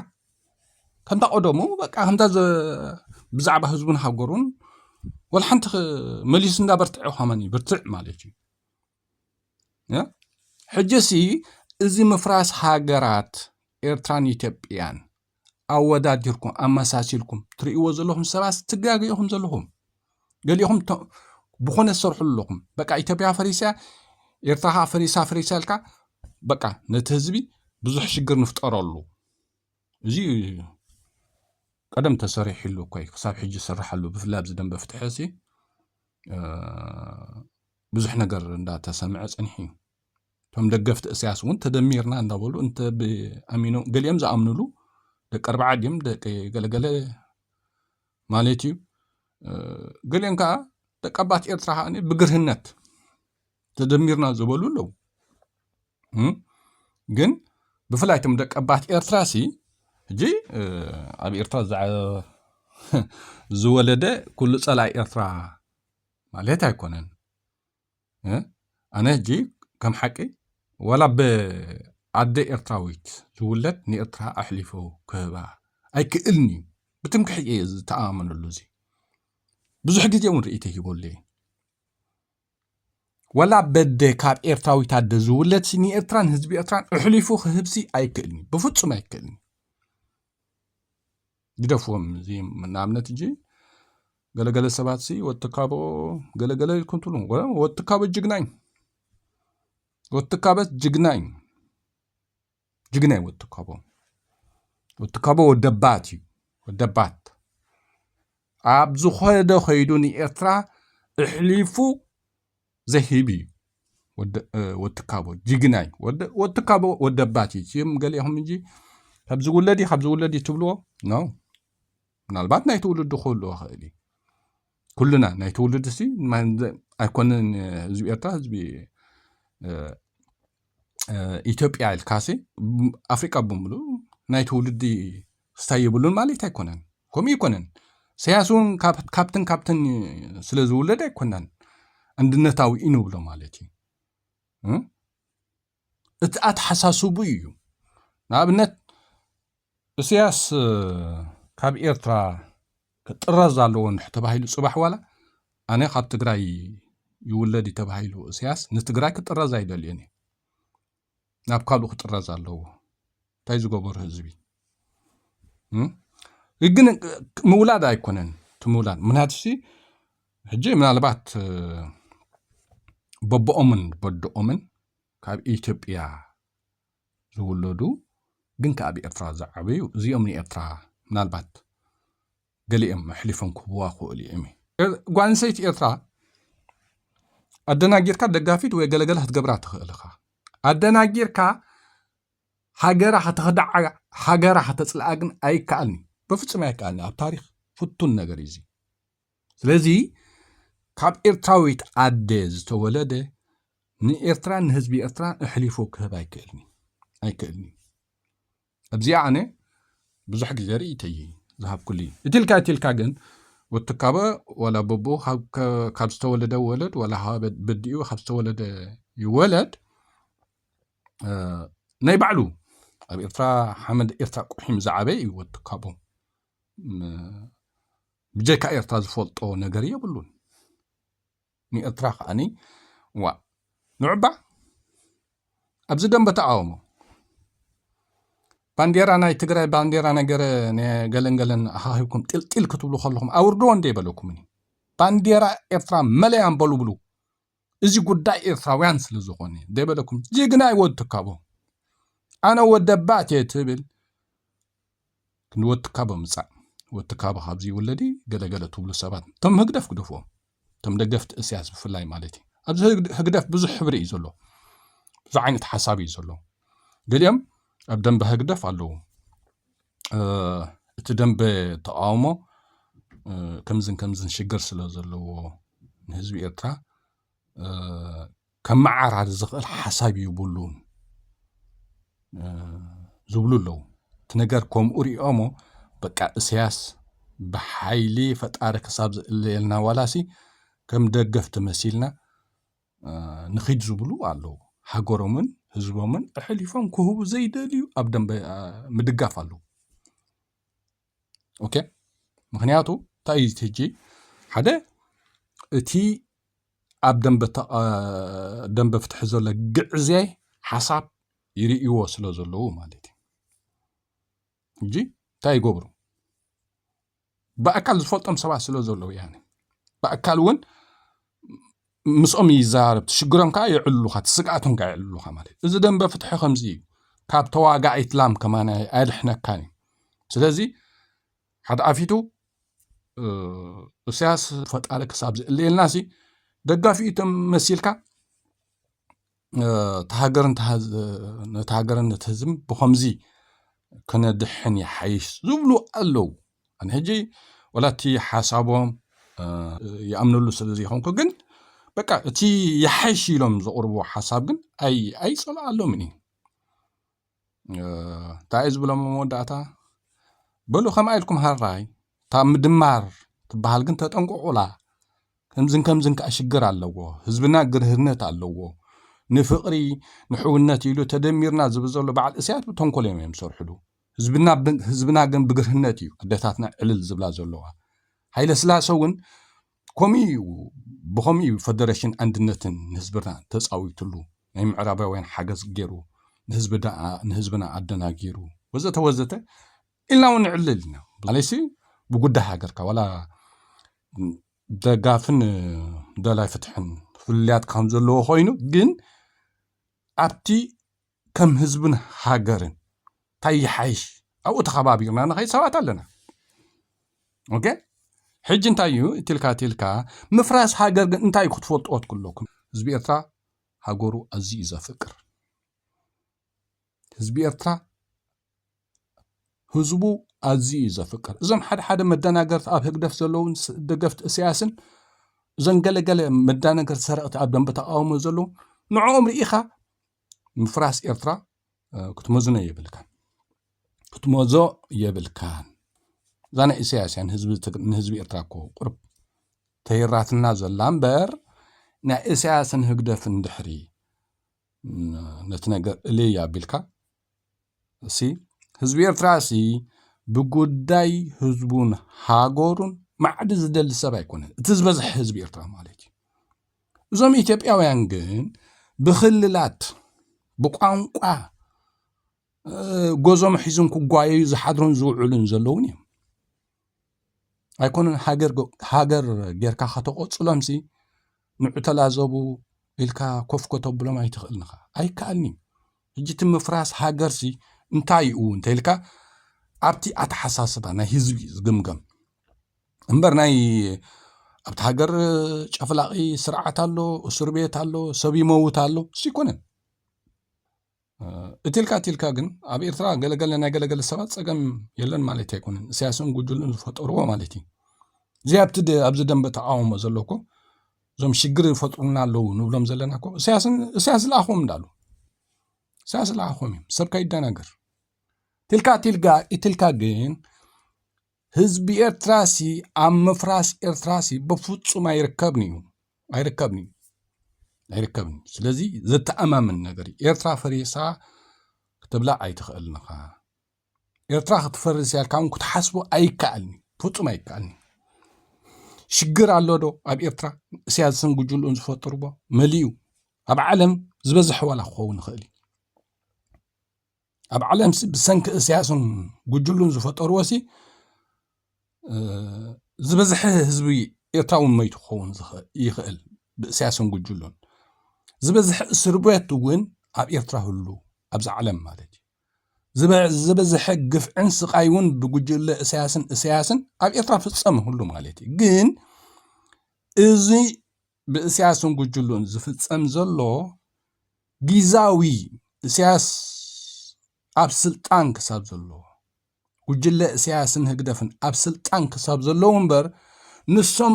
ከምታ ቀደሙ በቃ ከምታ ብዛዕባ ህዝቡን ሃገሩን ወላ ሓንቲ መሊሱ እንዳበርትዐ ከማን ይብርትዕ ማለት እዩ ሕጅሲ እዚ ምፍራስ ሃገራት ኤርትራን ኢትዮጵያን ኣወዳዲርኩም ኣመሳሲልኩም ትርእይዎ ዘለኹም ሰባት ትጋገ ኢኹም ዘለኹም ገሊኹም ብኾነ ዝሰርሑ ኣለኹም በቃ ኢትዮጵያ ፈሪሳ ኤርትራ ከዓ ፈሪሳ ፈሪሳ ኢልካ በቃ ነቲ ህዝቢ ብዙሕ ሽግር ንፍጠረሉ እዚ ቀደም ተሰሪሕሉ እኮ ክሳብ ሕጂ ዝስራሓሉ ብፍላይ ኣብዚ ደንበ ፍትሒ ብዙሕ ነገር እንዳ ተሰምዐ ጸኒሑ እዩ። እቶም ደገፍቲ እሰያስ እውን ተደሚርና እንዳበሉ እንተ ብኣሚኖም ገሊኦም ዝኣምንሉ ደቂ ኣርባዓ ድዮም ደቂ ገለገለ ማለት እዩ ገሊኦም ከዓ ደቂ ኣባት ኤርትራ ከዓ ብግርህነት ተደሚርና ዝበሉ ኣለዉ ግን ብፍላይ እቶም ደቂ ኣባት ኤርትራ ሲ ሕጂ ኣብ ኤርትራ ዝወለደ ኩሉ ፀላይ ኤርትራ ማለት ኣይኮነን እ ኣነ ሕጂ ከም ሓቂ ዋላ ብኣደ ኤርትራዊት ዝውለድ ንኤርትራ ኣሕሊፉ ክህባ ኣይክእልን እዩ ብትምክሕቲ እየ ዝተኣማመነሉ እዚ ብዙሕ ግዜ እውን ርእይተ ሂበሉ እየ ዋላ በደ ካብ ኤርትራዊት ኣደ ዝውለድ ሲ ንኤርትራን ህዝቢ ኤርትራን ኣሕሊፉ ክህብሲ ኣይክእልን እዩ ብፍጹም ኣይክእልን እዩ ግደፍዎም እዚ ንኣብነት እጂ ገለገለ ሰባት ሲ ወትካቦ ገለገለ ኢልኩም ትብሉ ወትካቦ ጅግናኝ ወትካበት ጅግናኝ ጅግናይ ወትካቦ ወትካቦ ወደባት እዩ ወደባት ኣብ ዝኾደ ከይዱ ንኤርትራ እሕሊፉ ዘሂብ እዩ ወትካቦ ጅግና እዩ ወትካቦ ወደባት እዩ እም ገሊኹም እንጂ ካብዚ ውለድ እዩ ካብዚ ውለድ እዩ ትብልዎ ኖ ምናልባት ናይ ትውልዱ ክህልዎ ክእል እዩ ኩልና ናይ ትውልድ ሲ ኣይኮነን ህዝቢ ኤርትራ ህዝቢ ኢትዮጵያ ኢልካሲ ኣፍሪቃ ብምሉ ናይ ትውልዲ ክስታይ የብሉን ማለት ኣይኮነን ከምኡ ኣይኮነን ሰያስ እውን ካብትን ካብትን ስለ ዝውለድ ኣይኮናን ኣንድነታዊ እዩ ንብሎ ማለት እዩ እቲ ኣተሓሳስቡ እዩ ንኣብነት እሰያስ ካብ ኤርትራ ክጥረዝ ኣለዎ እንድሕ ተባሂሉ ፅባሕ ዋላ ኣነ ካብ ትግራይ ይውለድ እዩ ተባሂሉ እሰያስ ንትግራይ ክጥረዝ ኣይደልዮን እዩ ናብ ካልኡ ክጥረዝ ኣለዎ እንታይ ዝገበሩ ህዝቢ ግን ምውላድ ኣይኮነን እቲ ምውላድ ምክንያቱሲ ሕጂ ምናልባት በቦኦምን በድኦምን ካብ ኢትዮጵያ ዝውለዱ ግን ከ ኣብ ኤርትራ ዝዓበዩ እዚኦም ንኤርትራ ምናልባት ገሊኦም ኣሕሊፎም ክህብዋ ክኽእሉ እዩም። ጓልንሰይቲ ኤርትራ ኣደናጊርካ ደጋፊት ወይ ገለገለ ክትገብራ ትኽእል እኻ ኣደናጊርካ ሃገራ ከተኽዳዓ ሃገራ ከተጽልኣ ግን ኣይከኣልኒ በፍጹም ኣይከኣልኒ ኣብ ታሪኽ ፍቱን ነገር እዩ ስለዚ ካብ ኤርትራዊት ኣደ ዝተወለደ ንኤርትራን ንህዝቢ ኤርትራን እሕሊፉ ክህብ ኣይክእልኒ ኣይክእልኒ ኣብዚኣ ኣነ ብዙሕ ግዜ ርእይቶይ ዝሃብኩሉ እዩ እቲ ኢልካ እቲ ኢልካ ግን ወትካበ ዋላ በቦ ካብ ዝተወለደ ወለድ ዋላ በዲኡ ካብ ዝተወለደ ይወለድ ናይ ባዕሉ ኣብ ኤርትራ ሓመድ ኤርትራ ቁሒም ዝዓበየ እዩ ወትካቦ ብጀካ ኤርትራ ዝፈልጦ ነገር የብሉን ንኤርትራ ከኣ ዋእ ንዑባ ኣብዚ ደምበ ተቃውሞ ባንዴራ ናይ ትግራይ ባንዴራ ነገረ ገለን ገለን ኣኻኺብኩም ጢልጢል ክትብሉ ከለኹም ኣውርድዎ እንደ ይበለኩምኒ ባንዴራ ኤርትራ መለያ በሉ ብሉ እዚ ጉዳይ ኤርትራውያን ስለ ዝኾነ ደይበለኩም ጅግና ይወድ ትካቦ ኣነ ወደባት እየ ትብል ንወትካቦ ምጻእ ወትካቦ ካብ ዝይውለዲ ገለ ገለ ትብሉ ሰባት እቶም ህግደፍ ግደፍዎም እቶም ደገፍቲ እስያስ ብፍላይ ማለት እዩ ኣብዚ ህግደፍ ብዙሕ ሕብሪ እዩ ዘሎ ብዙሕ ዓይነት ሓሳብ እዩ ዘሎ ገሊኦም ኣብ ደንበ ህግደፍ ኣለዉ እቲ ደንበ ተቃውሞ ከምዝን ከምዝን ሽግር ስለ ዘለዎ ንህዝቢ ኤርትራ ከመዓራሪ ዝኽእል ሓሳብ ይብሉን ዝብሉ ኣለዉ። እቲ ነገር ከምኡ ሪኦሞ በቃ እሰያስ ብሓይሊ ፈጣሪ ክሳብ ዝእለየልና ዋላሲ ከም ደገፍቲ መሲልና ንኺድ ዝብሉ ኣለዉ። ሃገሮምን ህዝቦምን ኣሕሊፎም ክህቡ ዘይደልዩ ኣብ ደንበ ምድጋፍ ኣለዉ። ኦኬ ምክንያቱ እንታይ እዩ ሕጂ ሓደ እቲ ኣብ ደንበ ፍትሒ ዘሎ ግዕዜ ሓሳብ ይርእይዎ ስለ ዘለዉ ማለት እዩ ሕጂ እንታይ ይገብሩ ብኣካል ዝፈልጦም ሰባት ስለ ዘለዉ ያኒ ብኣካል እውን ምስኦም ይዛረብ፣ ትሽግሮም ከኣ የዕልሉኻ፣ ትስግኣቶም ከኣ የዕልሉኻ ማለት እዩ። እዚ ደንበ ፍትሒ ከምዚ እዩ። ካብ ተዋጋኢት ላም ከማን ኣየድሕነካን እዩ። ስለዚ ሓደ ኣፊቱ እሳያስ ፈጣሪ ክሳብ ዝእለየልናሲ ደጋፊኡ መሲልካ እታ ሃገርን ነቲ ሃገርን ነቲ ህዝብን ብኸምዚ ክነድሕን ይሓይሽ ዝብሉ ኣለዉ ኣነ ሕጂ ወላ እቲ ሓሳቦም ይኣምነሉ ስለ ዘይኮንኩ ግን በቃ እቲ ይሓይሽ ኢሎም ዘቕርብዎ ሓሳብ ግን ኣይጸልኣሎምን እዩ እንታይ እዩ ዝብሎም ኣብ መወዳእታ በሉ ከምኣ ኢልኩም ሃራይ እታ ምድማር ትበሃል ግን ተጠንቀቑላ ከምዝን ከምዝን ከዓ ሽግር ኣለዎ ህዝብና ግርህነት ኣለዎ ንፍቕሪ ንሕውነት ኢሉ ተደሚርና ዝብል ዘሎ በዓል እስያት ብተንኮል እዮም እዮም ዝሰርሕሉ ህዝብና ብ- ህዝብና ግን ብግርህነት እዩ ኣደታትና ዕልል ዝብላ ዘለዋ ሃይለ ስላሰ እውን ከምኡ እዩ ብኸምኡ እዩ ፈደረሽን ኣንድነትን ንህዝብና ተፃዊትሉ ናይ ምዕራባውያን ሓገዝ ገይሩ ንህዝቢ ደኣ ንህዝብና ኣደናጊሩ ወዘተ ወዘተ ኢልና እውን ንዕልል ኢና ማለይሲ ብጉዳይ ሃገርካ ዋላ ደጋፍን ደላይ ፍትሕን ፍልልያት ከም ዘለዎ ኮይኑ ግን ኣብቲ ከም ህዝብን ሃገርን ታይ ይሓይሽ ኣብኡ ተኸባቢርና ንኸይድ ሰባት ኣለና ኦኬ ሕጂ እንታይ እዩ እትልካ ትልካ ምፍራስ ሃገር ግን እንታይ ክትፈልጥዎ ትክለኩም ህዝቢ ኤርትራ ሃገሩ ኣዝዩ ዘፍቅር ህዝቢ ኤርትራ ህዝቡ ኣዝዩ እዩ ዘፍቅር እዞም ሓደ ሓደ መደናገርቲ ኣብ ህግደፍ ዘለውን ደገፍቲ እሰያስን እዞም ገለገለ መዳነገርቲ ሰረቕቲ ኣብ ደንበ ተቃውሞ ዘለዉ ንዕኦም ርኢኻ ምፍራስ ኤርትራ ክትመዝኖ የብልካን ክትመዞ የብልካን እዛ ናይ ኢሳያስ እያ ንህዝቢ ኤርትራ እኮ ቁርብ ተይራትና ዘላ እምበር ናይ ኢሳያስን ህግደፍን ድሕሪ ነቲ ነገር እልይ ኣቢልካ እሲ ህዝቢ ኤርትራ እሲ ብጉዳይ ህዝቡን ሃገሩን ማዕዲ ዝደሊ ሰብ ኣይኮነን እቲ ዝበዝሐ ህዝቢ ኤርትራ ማለት እዩ እዞም ኢትዮጵያውያን ግን ብክልላት ብቋንቋ ጎዞም ሒዙን ክጓየዩ ዝሓድሩን ዝውዕሉን ዘለውን እዮም ኣይኮነን ሃገር ጌርካ ከተቖፅሎም ሲ ንዑ ተላዘቡ ኢልካ ኮፍ ከተብሎም ኣይትኽእልን ኢኻ ኣይከኣልን እዩ ሕጂ እቲ ምፍራስ ሃገር ሲ እንታይ እዩ እንተኢልካ ኣብቲ ኣተሓሳስባ ናይ ህዝቢ እዩ ዝግምገም እምበር ናይ ኣብቲ ሃገር ጨፍላቒ ስርዓት ኣሎ እስር ቤት ኣሎ ሰብ ይመውት ኣሎ እሱ ኣይኮነን እትልካ እትልካ ግን ኣብ ኤርትራ ገለገለ ናይ ገለገለ ሰባት ጸገም የለን ማለት ኣይኮነን እሳያስን ጉጅሉን ዝፈጠርዎ ማለት እዩ እዚ ኣብቲ ኣብዚ ደንበ ተቃውሞ ዘለኩ እዞም ሽግር ይፈጥሩና ኣለዉ ንብሎም ዘለና ኮ እሳያስ ዝለኣኹም እንዳሉ እሳያስ ዝለኣኹም እዮም ሰብካ ይደናገር ትልካ ትልጋ ኢትልካ ግን ህዝቢ ኤርትራ ሲ ኣብ ምፍራስ ኤርትራ ሲ ብፍጹም ኣይርከብን እዩ ኣይርከብን እዩ ኣይርከብን እዩ ስለዚ ዘተኣማምን ነገር እዩ ኤርትራ ፈሪሳ ክትብላ ኣይትኽእልን ኢኻ ኤርትራ ክትፈርስ እያ ኢልካ እውን ክትሓስቦ ኣይከኣልን እዩ ፍጹም ኣይከኣልን እዩ ሽግር ኣሎ ዶ ኣብ ኤርትራ እስያ ዝሰንግጅሉን ዝፈጥርዎ መሊኡ ኣብ ዓለም ዝበዝሐ ዋላ ክኸውን ይኽእል እዩ ኣብ ዓለምሲ ብሰንኪ እሰያስን ጉጅሉን ዝፈጠርዎሲ ዝበዝሐ ህዝቢ ኤርትራ እውን መይቱ ክኸውን ይኽእል ብእሰያስን ጉጅሉን ዝበዝሐ እስር ቤት እውን ኣብ ኤርትራ ህሉ ኣብዚ ዓለም ማለት እዩ ዝበዝሐ ግፍዕን ስቃይ እውን ብጉጅለ እሰያስን እሰያስን ኣብ ኤርትራ ፍፀም ህሉ ማለት እዩ ግን እዚ ብእስያስን ጉጅሉን ዝፍጸም ዘሎ ጊዛዊ እስያስ ኣብ ስልጣን ክሳብ ዘሎ ጉጅለ እስያስን ህግደፍን ኣብ ስልጣን ክሳብ ዘለዉ እምበር ንሶም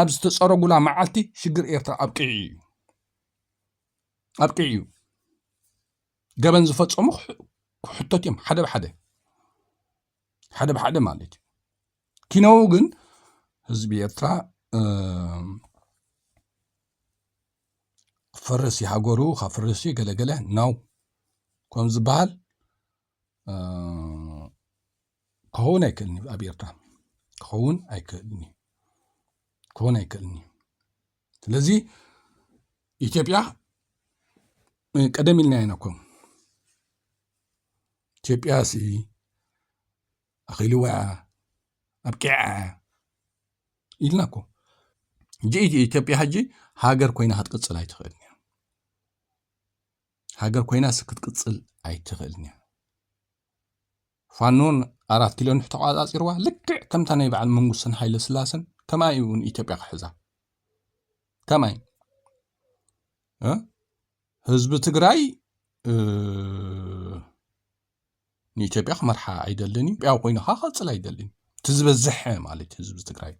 ኣብ ዝተጸረጉላ መዓልቲ ሽግር ኤርትራ ኣብቂዑ እዩ ኣብቂዑ እዩ ገበን ዝፈጸሙ ክሕተት እዮም ሓደ ብሓደ ሓደ ብሓደ ማለት እዩ ኪነው ግን ህዝቢ ኤርትራ ክፈርስ እዩ ሃገሩ ካብ ፈርስ እዩ ገለገለ ናው ከም ዝበሃል ክኸውን ኣይክእልን እዩ ኣብ ኤርትራ ክኸውን ኣይክእልን እዩ ክኸውን ኣይክእልን እዩ ስለዚ ኢትዮጵያ ቀደም ኢልና ኢና ኮም ኢትዮጵያሲ ኣኺልዋ እያ ኣብቂዓ እያ ኢልና እኮ ሕጂ ኢትዮጵያ ሕጂ ሃገር ኮይና ክትቅፅል ኣይትኽእልን እያ ሃገር ኮይናስ ክትቅፅል ኣይትኽእልን እያ ፋኖን ኣራት ኪሎን ተቋፃፂርዋ ልክዕ ከምታ ናይ በዓል መንግስትን ሓይለ ስላሰን ከምኣ እዩ እውን ኢትዮጵያ ክሕዛ ከምይ ህዝቢ ትግራይ ንኢትዮጵያ ክመርሓ ኣይደልን እዩ ጵያው ኮይኑ ከዓ ክቅፅል ኣይደልን እቲ ዝበዝሐ ማለት ህዝቢ ትግራይ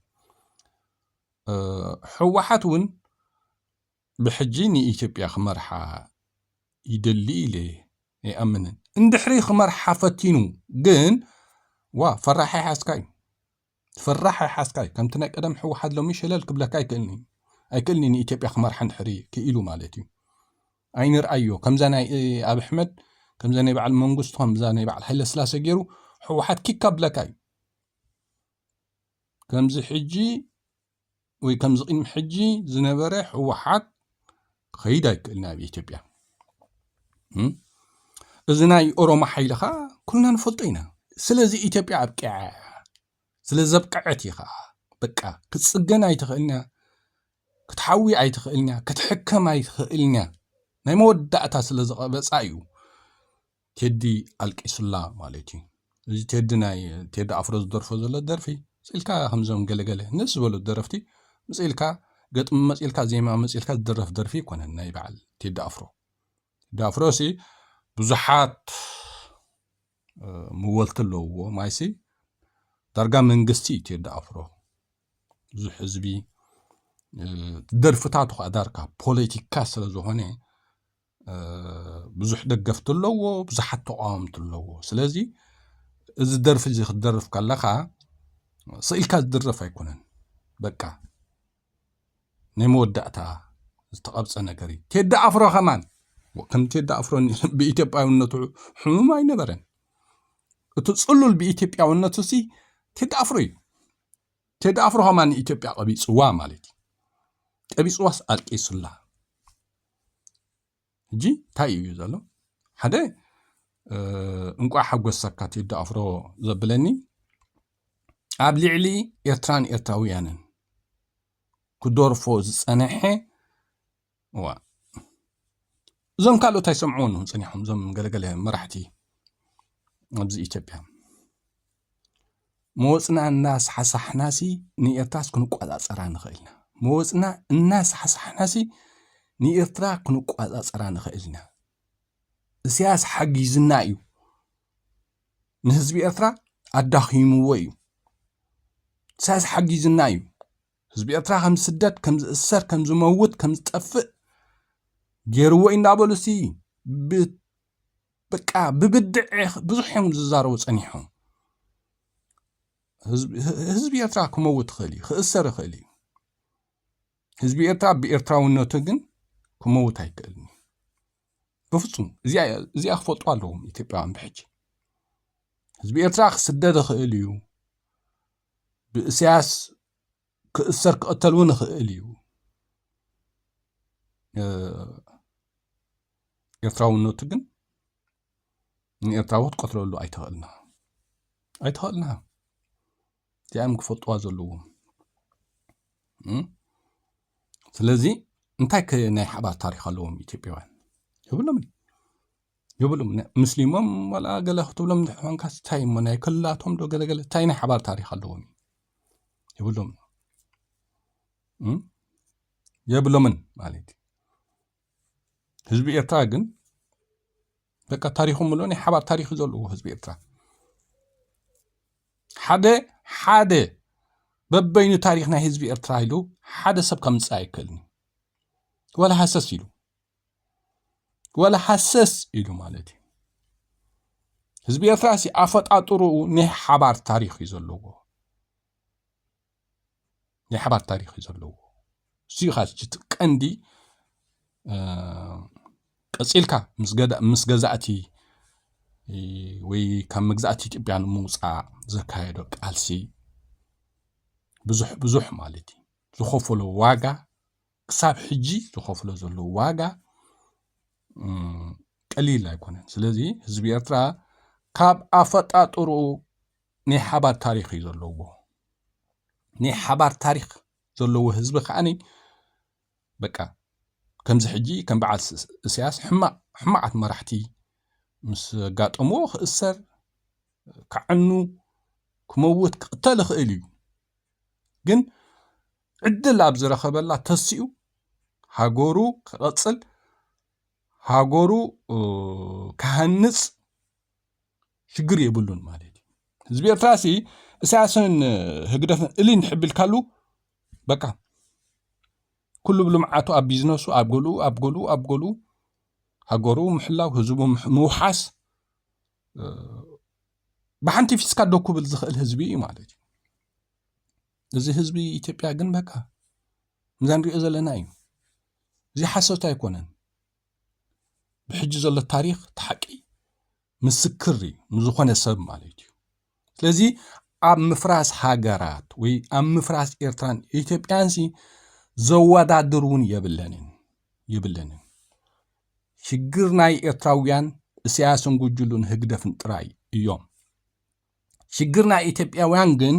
ሕወሓት እውን ብሕጂ ንኢትዮጵያ ክመርሓ ይደሊ ኢለ ይኣምንን እንድሕሪ ክመርሓ ፈቲኑ ግን ዋ ፈራሒ ሓዝካ እዩ ትፍራሕ ኣይሓዝካይ ከምቲ ናይ ቀደም ሕወሓት ሎሚ ሸለል ክብለካ ኣይክእልን እዩ ኣይክእልን እዩ ንኢትዮጵያ ክመርሓ እንድሕሪ ክኢሉ ማለት እዩ ኣይንርኣዮ ከምዛ ናይ ኣብ ኣሕመድ ከምዛ ናይ በዓል መንግስቱ ከምዛ ናይ በዓል ሃይለ ስላሰ ገይሩ ሕወሓት ኪካ ብለካ እዩ ከምዚ ሕጂ ወይ ከምዚ ቅድሚ ሕጂ ዝነበረ ህወሓት ክኸይድ ኣይክእልን ኣብ ኢትዮጵያ እዚ ናይ ኦሮሞ ሓይሊ ከዓ ኩልና ንፈልጦ ኢና ስለዚ ኢትዮጵያ ኣብቂዓ ስለ ዘብቅዐት እዩ ከዓ በቃ ክትፅገን ኣይትኽእልንያ ክትሓዊ ኣይትኽእልንያ ክትሕከም ኣይትኽእልንያ ናይ መወዳእታ ስለ ዝቐበፃ እዩ ቴዲ ኣልቂሱላ ማለት እዩ እዚ ቴዲ ናይ ቴዲ ኣፍሮ ዝደርፎ ዘሎ ደርፊ ስኢልካ ከምዞም ገለገለ ንስ ዝበሉ ደረፍቲ ምፅኢልካ ገጥሚ መፅኢልካ ዜማ መፅኢልካ ዝደረፍ ደርፊ ኣይኮነን ናይ በዓል ቴዲ ኣፍሮ ቴዲ ኣፍሮ ሲ ብዙሓት መወልቲ ኣለውዎ ማይሲ ዳርጋ መንግስቲ እዩ ቴዲ ኣፍሮ ብዙሕ ህዝቢ ደርፍታቱ ከዓ ዳርካ ፖለቲካ ስለ ዝኾነ ብዙሕ ደገፍቲ ኣለዎ ብዙሓት ተቃወምቲ ኣለዎ ስለዚ እዚ ደርፊ እዚ ክትደርፍ ከለኻ ስኢልካ ዝድረፍ ኣይኮነን በቃ ናይ መወዳእታ ዝተቐብፀ ነገር እዩ ቴዲ ኣፍሮ ከማን ከም ቴዲ ኣፍሮ ብኢትዮጵያውነቱ ሕሙም ኣይነበረን እቲ ፅሉል ብኢትዮጵያውነቱ ሲ ቴዲ ኣፍሮ እዩ ቴዲ ኣፍሮ ኸማ ንኢትዮጵያ ቀቢፅዋ ማለት እዩ ቀቢፅዋስ ኣልቂሱላ ሕጂ እንታይ እዩ ዘሎ ሓደ እንቋዕ ሓጎሰካ ቴዲ ኣፍሮ ዘብለኒ ኣብ ልዕሊ ኤርትራን ኤርትራውያንን ክደርፎ ዝፀነሐ እዋእ እዞም ካልኦት ኣይሰምዕዎን እዮም ጸኒሖም እዞም ገለገለ መራሕቲ ኣብዚ ኢትዮጵያ መወፅና እናሳሕሳሕናሲ ንኤርትራስ ክንቋፃፀራ ንኽእል ኢና መወፅና እናሳሕሳሕናሲ ንኤርትራ ክንቋፃፀራ ንኽእል ኢና እስያስ ሓጊዝና እዩ ንህዝቢ ኤርትራ ኣዳኺምዎ እዩ እስያስ ሓጊዝና እዩ ህዝቢ ኤርትራ ከም ዝስደድ ከም ዝእሰር ከም ዝመውት ከም ዝጠፍእ ገይርዎ እንዳበሉ ሲ በቃ ብብድዕ ብዙሕ እዮም ዝዛረቡ ጸኒሖም። ህዝቢ ኤርትራ ክመውት ይኽእል እዩ፣ ክእሰር ይኽእል እዩ። ህዝቢ ኤርትራ ብኤርትራውነቱ ግን ክመውት ኣይክእልን እዩ ብፍጹም። እዚኣ ክፈልጡ ኣለዎም ኢትዮጵያውያን ብሕጂ። ህዝቢ ኤርትራ ክስደድ ይኽእል እዩ፣ ብእሰያስ ክእሰር ክቕተል እውን ይኽእል እዩ ኤርትራውነቱ ግን ንኤርትራዊ ክትቀትለሉ ኣይትኽእልና ኣይትኽእልና እዚኣም ክፈልጥዋ ዘለዎም ስለዚ እንታይ ከ ናይ ሓባር ታሪክ ኣለዎም ኢትዮጵያውያን የብሎምን ይብሉ ምስሊሞም ዋላ ገለ ክትብሎም እንድሕር ኮንካ እንታይ እሞ ናይ ክልላቶም ዶ ገለገለ እንታይ ናይ ሓባር ታሪክ ኣለዎም ይብሎም የብሎምን ማለት እዩ ህዝቢ ኤርትራ ግን በቃ ታሪኹ ምሎ ናይ ሓባር ታሪክ እዩ ዘለዎ ህዝቢ ኤርትራ ሓደ ሓደ በበይኑ ታሪክ ናይ ህዝቢ ኤርትራ ኢሉ ሓደ ሰብ ከምፅእ ኣይክእልን እዩ ዋላ ሃሰስ ኢሉ ወላ ሃሰስ ኢሉ ማለት እዩ ህዝቢ ኤርትራ ሲ ኣፈጣጥርኡ ናይ ሓባር ታሪክ እዩ ዘለዎ ናይ ሓባር ታሪክ እዩ ዘለዎ እሱዩ ካ እቲ ቀንዲ ቀፂልካ ምስ ገዛእቲ ወይ ካብ መግዛእቲ ኢትዮጵያ ንምውፃእ ዘካየዶ ቃልሲ ብዙሕ ብዙሕ ማለት እዩ ዝኸፈሎ ዋጋ ክሳብ ሕጂ ዝኸፍሎ ዘሎ ዋጋ ቀሊል ኣይኮነን። ስለዚ ህዝቢ ኤርትራ ካብ ኣፈጣጥርኡ ናይ ሓባር ታሪኽ እዩ ዘለዎ። ናይ ሓባር ታሪኽ ዘለዎ ህዝቢ ከዓኒ በቃ ከምዚ ሕጂ ከም በዓል እስያስ ሕማቅ ሕማቃት መራሕቲ ምስ ኣጋጠምዎ ክእሰር ክዕኑ ክመውት ክቕተል ይኽእል እዩ። ግን ዕድል ኣብ ዝረኸበላ ተሲኡ ሃገሩ ክቐፅል ሃገሩ ክሃንፅ ሽግር የብሉን ማለት እዩ ህዝቢ ኤርትራ ሲ እሳያስን ህግደፍን እልይ ንሕቢልካሉ በቃ ኩሉ ብልምዓቱ ኣብ ቢዝነሱ ኣብ ገሉ ኣብ ገሉ ኣብ ገሉ ሃገሩ ምሕላው ህዝቡ ምውሓስ ብሓንቲ ፊስካ ዶ ክብል ዝኽእል ህዝቢ እዩ ማለት እዩ እዚ ህዝቢ ኢትዮጵያ ግን በቃ እዛ ንሪኦ ዘለና እዩ እዚ ሓሶት ኣይኮነን ብሕጂ ዘሎ ታሪክ እቲ ሓቂ ምስክር እዩ ንዝኾነ ሰብ ማለት እዩ ስለዚ ኣብ ምፍራስ ሃገራት ወይ ኣብ ምፍራስ ኤርትራን ኢትዮጵያንሲ ዘወዳድር እውን የብለንን የብለንን ሽግር ናይ ኤርትራውያን እሳያስን ጉጅሉን ህግደፍን ጥራይ እዮም ሽግር ናይ ኢትዮጵያውያን ግን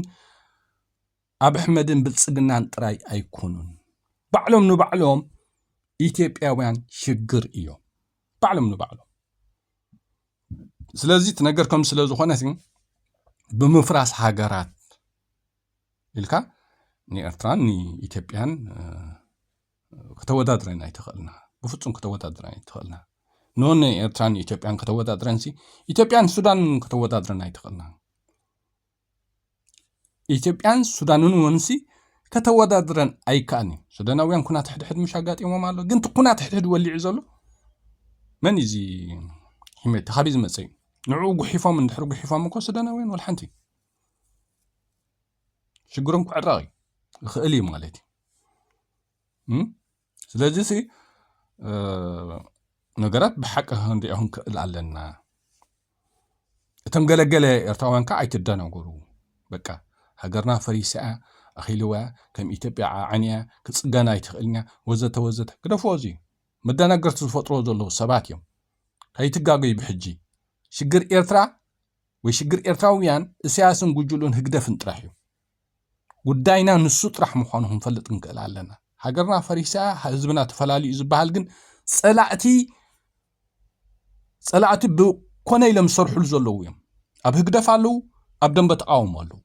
ኣብ ኣሕመድን ብልፅግናን ጥራይ ኣይኮኑን ባዕሎም ንባዕሎም ኢትዮጵያውያን ሽግር እዮም ባዕሎም ንባዕሎም ስለዚ እቲ ነገር ከም ስለ ዝኾነ ብምፍራስ ሃገራት ኢልካ ንኤርትራን ንኢትዮጵያን ከተወዳድረን ኣይትኽእልና ብፍፁም ከተወዳድረን ኣይትኽእልና ኖነ ኤርትራን ኢትዮጵያን ከተወዳድረን ሲ ኢትዮጵያን ሱዳን ከተወዳድረን ኣይትኽእልና ኢትዮጵያን ሱዳንን እውንሲ ከተወዳድረን ኣይከኣልን እዩ። ሱዳናውያን ኩናት ሕድሕድ ምሽ ኣጋጢሞም ኣሎ። ግን እቲ ኩናት ሕድሕድ ወሊዑ ዘሎ መን እዩ እዚ ሂመቲ ካበይ ዝመፀ እዩ? ንዕኡ ጉሒፎም እንድሕር ጉሒፎም እኮ ሱዳናውያን ወላ ሓንቲ ሽግሮም ክዕረቕ ይኽእል እዩ ማለት እዩ። ስለዚ ሲ ነገራት ብሓቂ ክንሪኦ ክንክእል ኣለና እቶም ገለገለ ኤርትራውያን ከዓ ኣይትደናገሩ በቃ ሃገርና ፈሪሳ እያ ኣኺልዋ እያ ከም ኢትዮጵያ ዓዓን እያ ክፅገና ኣይትኽእልን እያ ወዘተ ወዘተ ግደፍዎ እዚ መደናገርቲ ዝፈጥርዎ ዘለዉ ሰባት እዮም ከይትጋገዩ ብሕጂ ሽግር ኤርትራ ወይ ሽግር ኤርትራውያን እሳያስን ጉጅሉን ህግደፍን ጥራሕ እዩ ጉዳይና ንሱ ጥራሕ ምዃኑ ክንፈልጥ ክንክእል ኣለና። ሃገርና ፈሪሳ ህዝብና ተፈላልዩ እዩ ዝበሃል ግን ፀላእቲ ፀላእቲ ብኮነ ኢሎም ዝሰርሕሉ ዘለዉ እዮም። ኣብ ህግደፍ ኣለዉ፣ ኣብ ደንበ ተቃውሞ ኣለዉ።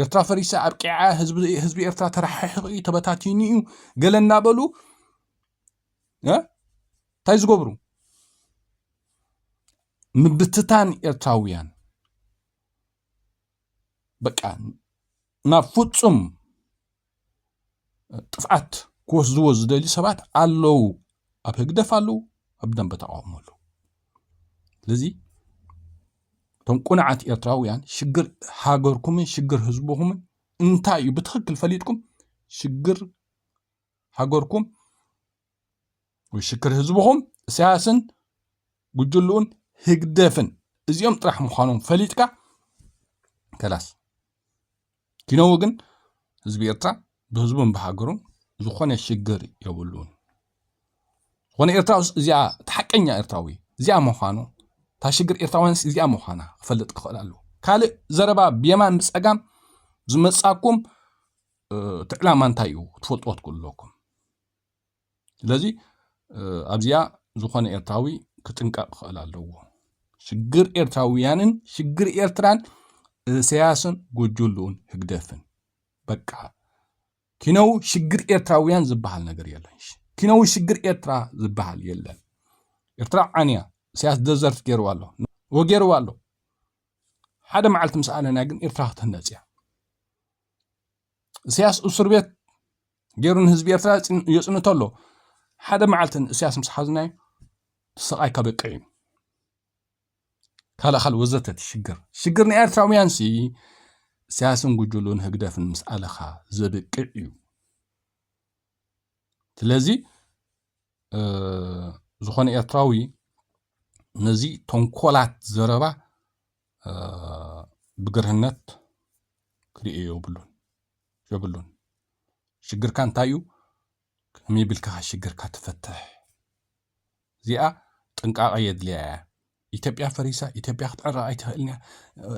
ኤርትራ ፈሪሳ ኣብቂዓ ህዝቢ ኤርትራ ተረሓሒቑ እዩ ተበታቲኑ እዩ ገለ እናበሉ እንታይ ዝገብሩ ምብትታን ኤርትራውያን በቃ ናብ ፍጹም ጥፍኣት ክወስድዎ ዝደልዩ ሰባት ኣለዉ ኣብ ህግደፍ ኣለዉ ኣብ ደንበ ተቃውሞ ኣለዉ ስለዚ እቶም ቁንዓት ኤርትራውያን ሽግር ሃገርኩምን ሽግር ህዝብኹምን እንታይ እዩ ብትክክል ፈሊጥኩም ሽግር ሃገርኩም ወይ ሽክር ህዝብኹም እሳያስን ጉጅልኡን ህግደፍን እዚኦም ጥራሕ ምዃኖም ፈሊጥካ ከላስ ኪነው ግን ህዝቢ ኤርትራ ብህዝቡን ብሃገሩን ዝኾነ ሽግር የብሉን ዝኾነ ኤርትራ ውስ እዚኣ እቲ ሓቀኛ ኤርትራዊ እዚኣ ምዃኑ እታ ሽግር ኤርትራውያንስ እዚኣ ምዃና ክፈልጥ ክኽእል ኣለዎ ካልእ ዘረባ ብየማን ብፀጋም ዝመፃኩም እቲ ዕላማ እንታይ እዩ ትፈልጥዎ ትክእሉ ኣለኩም ስለዚ ኣብዚኣ ዝኾነ ኤርትራዊ ክጥንቀቕ ክኽእል ኣለዎ ሽግር ኤርትራውያንን ሽግር ኤርትራን እሰያስን ጎጆሉኡን ህግደፍን በቃ ኪነው ሽግር ኤርትራውያን ዝበሃል ነገር የለን ኪነው ሽግር ኤርትራ ዝበሃል የለን ኤርትራ ዓንያ እሰያስ ደዘርት ገይርዋ ኣሎ ወገይርዋ ኣሎ ሓደ መዓልቲ ምስ ኣለና ግን ኤርትራ ክትህነፅ እያ እሰያስ እስር ቤት ገይሩ ንህዝቢ ኤርትራ የጽንቶ ኣሎ ሓደ መዓልቲ ንእስያስ ምስ ሓዝናዮ ስቓይ ከበቅዕ እዩ ካልእ ካልእ ወዘተ ትሽግር ሽግር ናይ ኤርትራውያን ሲ እሳያስን ጉጅሉን ህግደፍን ምስ ኣለኻ ዘብቅዕ እዩ ስለዚ ዝኾነ ኤርትራዊ ነዚ ተንኮላት ዘረባ ብግርህነት ክርእዮ የብሉን የብሉን ሽግርካ እንታይ እዩ ከመይ ቢልካ ሽግርካ ትፈትሕ እዚኣ ጥንቃቀ የድልያ እያ ኢትዮጵያ ፈሪሳ ኢትዮጵያ ክትዕረ ኣይትኽእልን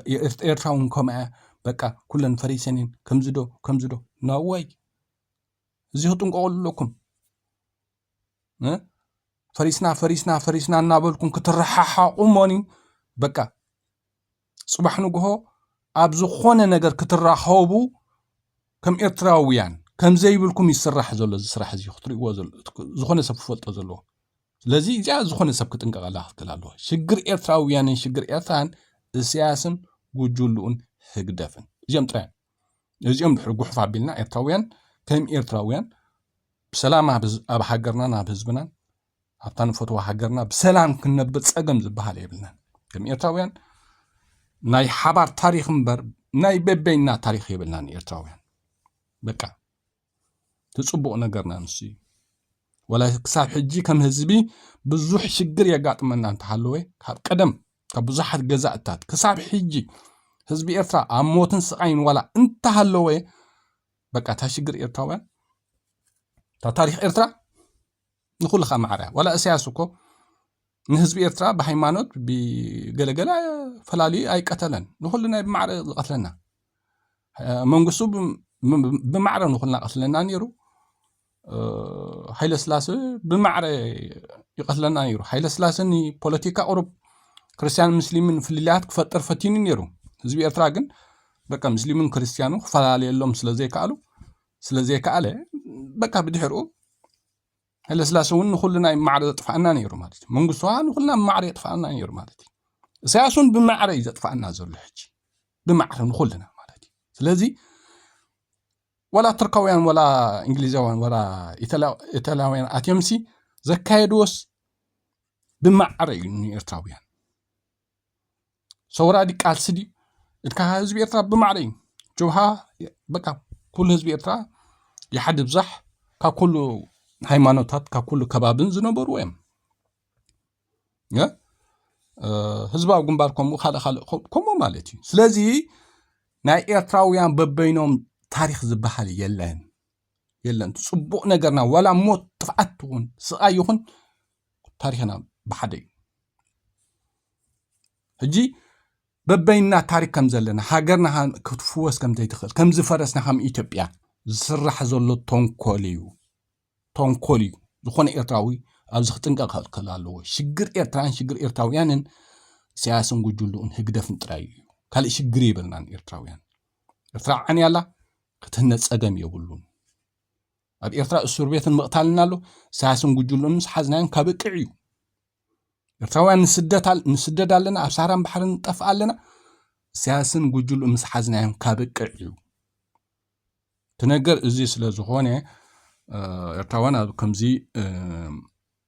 እያ ኤርትራ እውን ከምኣ እያ በቃ ኩለን ፈሪሰን እየን ከምዚ ዶ ከምዚ ዶ ናዋይ እዚ ክጥንቀቁሉ ኣለኩም ፈሪስና ፈሪስና ፈሪስና እናበልኩም ክትረሓሓቑ እሞኒ በቃ ፅባሕ ንግሆ ኣብ ዝኾነ ነገር ክትራኸቡ ከም ኤርትራውያን ከም ዘይብልኩም ይስራሕ ዘሎ እዚ ስራሕ እዚ ክትሪእዎ ዝኾነ ሰብ ክፈልጦ ዘለዎ ስለዚ እዚኣ ዝኾነ ሰብ ክጥንቀቐላ ክትክል ኣለዎ ሽግር ኤርትራውያንን ሽግር ኤርትራን እሰያስን ጉጅልኡን ህግደፍን እዚኦም ጥራዮም ነዚኦም ድሕሪ ጉሑፍ ኣቢልና ኤርትራውያን ከም ኤርትራውያን ብሰላም ኣብ ሃገርናን ኣብ ህዝብናን ኣብታ ንፈትዋ ሃገርና ብሰላም ክንነብር ፀገም ዝበሃል የብልናን ከም ኤርትራውያን ናይ ሓባር ታሪክ እምበር ናይ በበይና ታሪክ የብልናን ኤርትራውያን በቃ እቲ ፅቡቕ ነገርና ንሱ እዩ ወላ ክሳብ ሕጂ ከም ህዝቢ ብዙሕ ሽግር የጋጥመና እንተሃለወ ካብ ቀደም ካብ ብዙሓት ገዛእታት ክሳብ ሕጂ ህዝቢ ኤርትራ ኣብ ሞትን ስቓይን ዋላ እንተሃለወ በቃ እታ ሽግር ኤርትራውያን እታ ታሪክ ኤርትራ ንኩልኻ ማዕረ ዋላ እሰያስ እኮ ንህዝቢ ኤርትራ ብሃይማኖት ብገለገለ ፈላልዩ ኣይቀተለን ንኩሉ ናይ ብማዕረ ዝቀትለና መንግስቱ ብማዕረ ንኩልና ቀትለና ነይሩ ሃይለ ስላሴ ብማዕረ ይቀትለና ነይሩ ሃይለ ስላሴ ንፖለቲካ ቁሩብ ክርስትያን ምስሊምን ፍልልያት ክፈጥር ፈቲኑ ነይሩ ህዝቢ ኤርትራ ግን በቃ ምስሊምን ክርስትያኑ ክፈላለየሎም ስለዘይከኣሉ ስለዘይከኣለ በቃ ብድሕርኡ ሃይለስላሰ እውን ንኩልና እዩ ማዕረ ዘጥፋእና ነይሩ ማለት እዩ መንግስቱ ከዓ ንኩልና ብማዕረ የጥፋእና ነይሩ ማለት እዩ እሳያስ እውን ብማዕረ እዩ ዘጥፋእና ዘሎ ሕጂ ብማዕረ ንኩልና ማለት እዩ ስለዚ ወላ ቱርካውያን ወላ እንግሊዛውያን ወላ ኢታላውያን ኣትዮምሲ ዘካየድዎስ ብማዕረ እዩ ንኤርትራውያን ሰውራ ዲ ቃልሲ ድዩ እካ ህዝቢ ኤርትራ ብማዕረ እዩ ጅብሃ በቃ ኩሉ ህዝቢ ኤርትራ ይሓዲ ብዛሕ ካብ ኩሉ ሃይማኖታት ካብ ኩሉ ከባብን ዝነበሩ እዮም ህዝባዊ ግንባር ከምኡ ካልእ ካልእ ከምኡ ማለት እዩ ስለዚ ናይ ኤርትራውያን በበይኖም ታሪክ ዝበሃል የለን የለን ፅቡቅ ነገርና ዋላ ሞት ጥፍዓት ይኹን ስቃይ ይኹን ታሪኽና ብሓደ እዩ ሕጂ በበይንና ታሪክ ከም ዘለና ሃገርና ክትፍወስ ከም ዘይትኽእል ከም ዝፈረስና ከም ኢትዮጵያ ዝስራሕ ዘሎ ተንኮል እዩ ተንኮል እዩ ዝኾነ ኤርትራዊ ኣብዚ ክጥንቀቕ ክኽእል ኣለዎ ሽግር ኤርትራን ሽግር ኤርትራውያንን ኢሳያስን ጉጅልኡን ህግደፍን ጥራይ እዩ ካልእ ሽግር የብልናን ኤርትራውያን ኤርትራ ዓንያ ኣላ ክትህነ ጸገም የብሉን ኣብ ኤርትራ እሱርቤትን ምቕታልን ኣሎ። ኢሳያስን ጉጅልኡን ምስ ሓዝናዮም ከብቅዕ እዩ። ኤርትራውያን ንስደድ ኣለና፣ ኣብ ሳህራን ባሕርን ንጠፍእ ኣለና። ኢሳያስን ጉጅልኡ ምስ ሓዝናዮም ከብቅዕ እዩ። እቲ ነገር እዚ ስለ ዝኾነ ኤርትራውያን ኣብ ከምዚ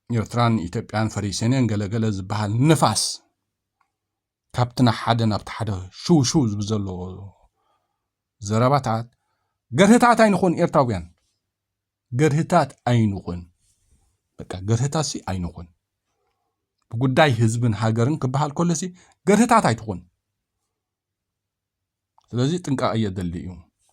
ኤርትራን ኢትዮጵያን ፈሪሰንን ገለገለ ዝበሃል ንፋስ ካብቲ ንሓደ ናብቲ ሓደ ሽው ሽው ዝብል ዘሎ ዘረባታት ገርህታት ኣይንኹን ኤርትራውያን ገርህታት ኣይንኹን በቃ ገርህታት ሲ ኣይንኹን ብጉዳይ ህዝብን ሃገርን ክበሃል ከሎ ሲ ገርህታት ኣይትኹን ስለዚ ጥንቃቐ እየድሊ እዩ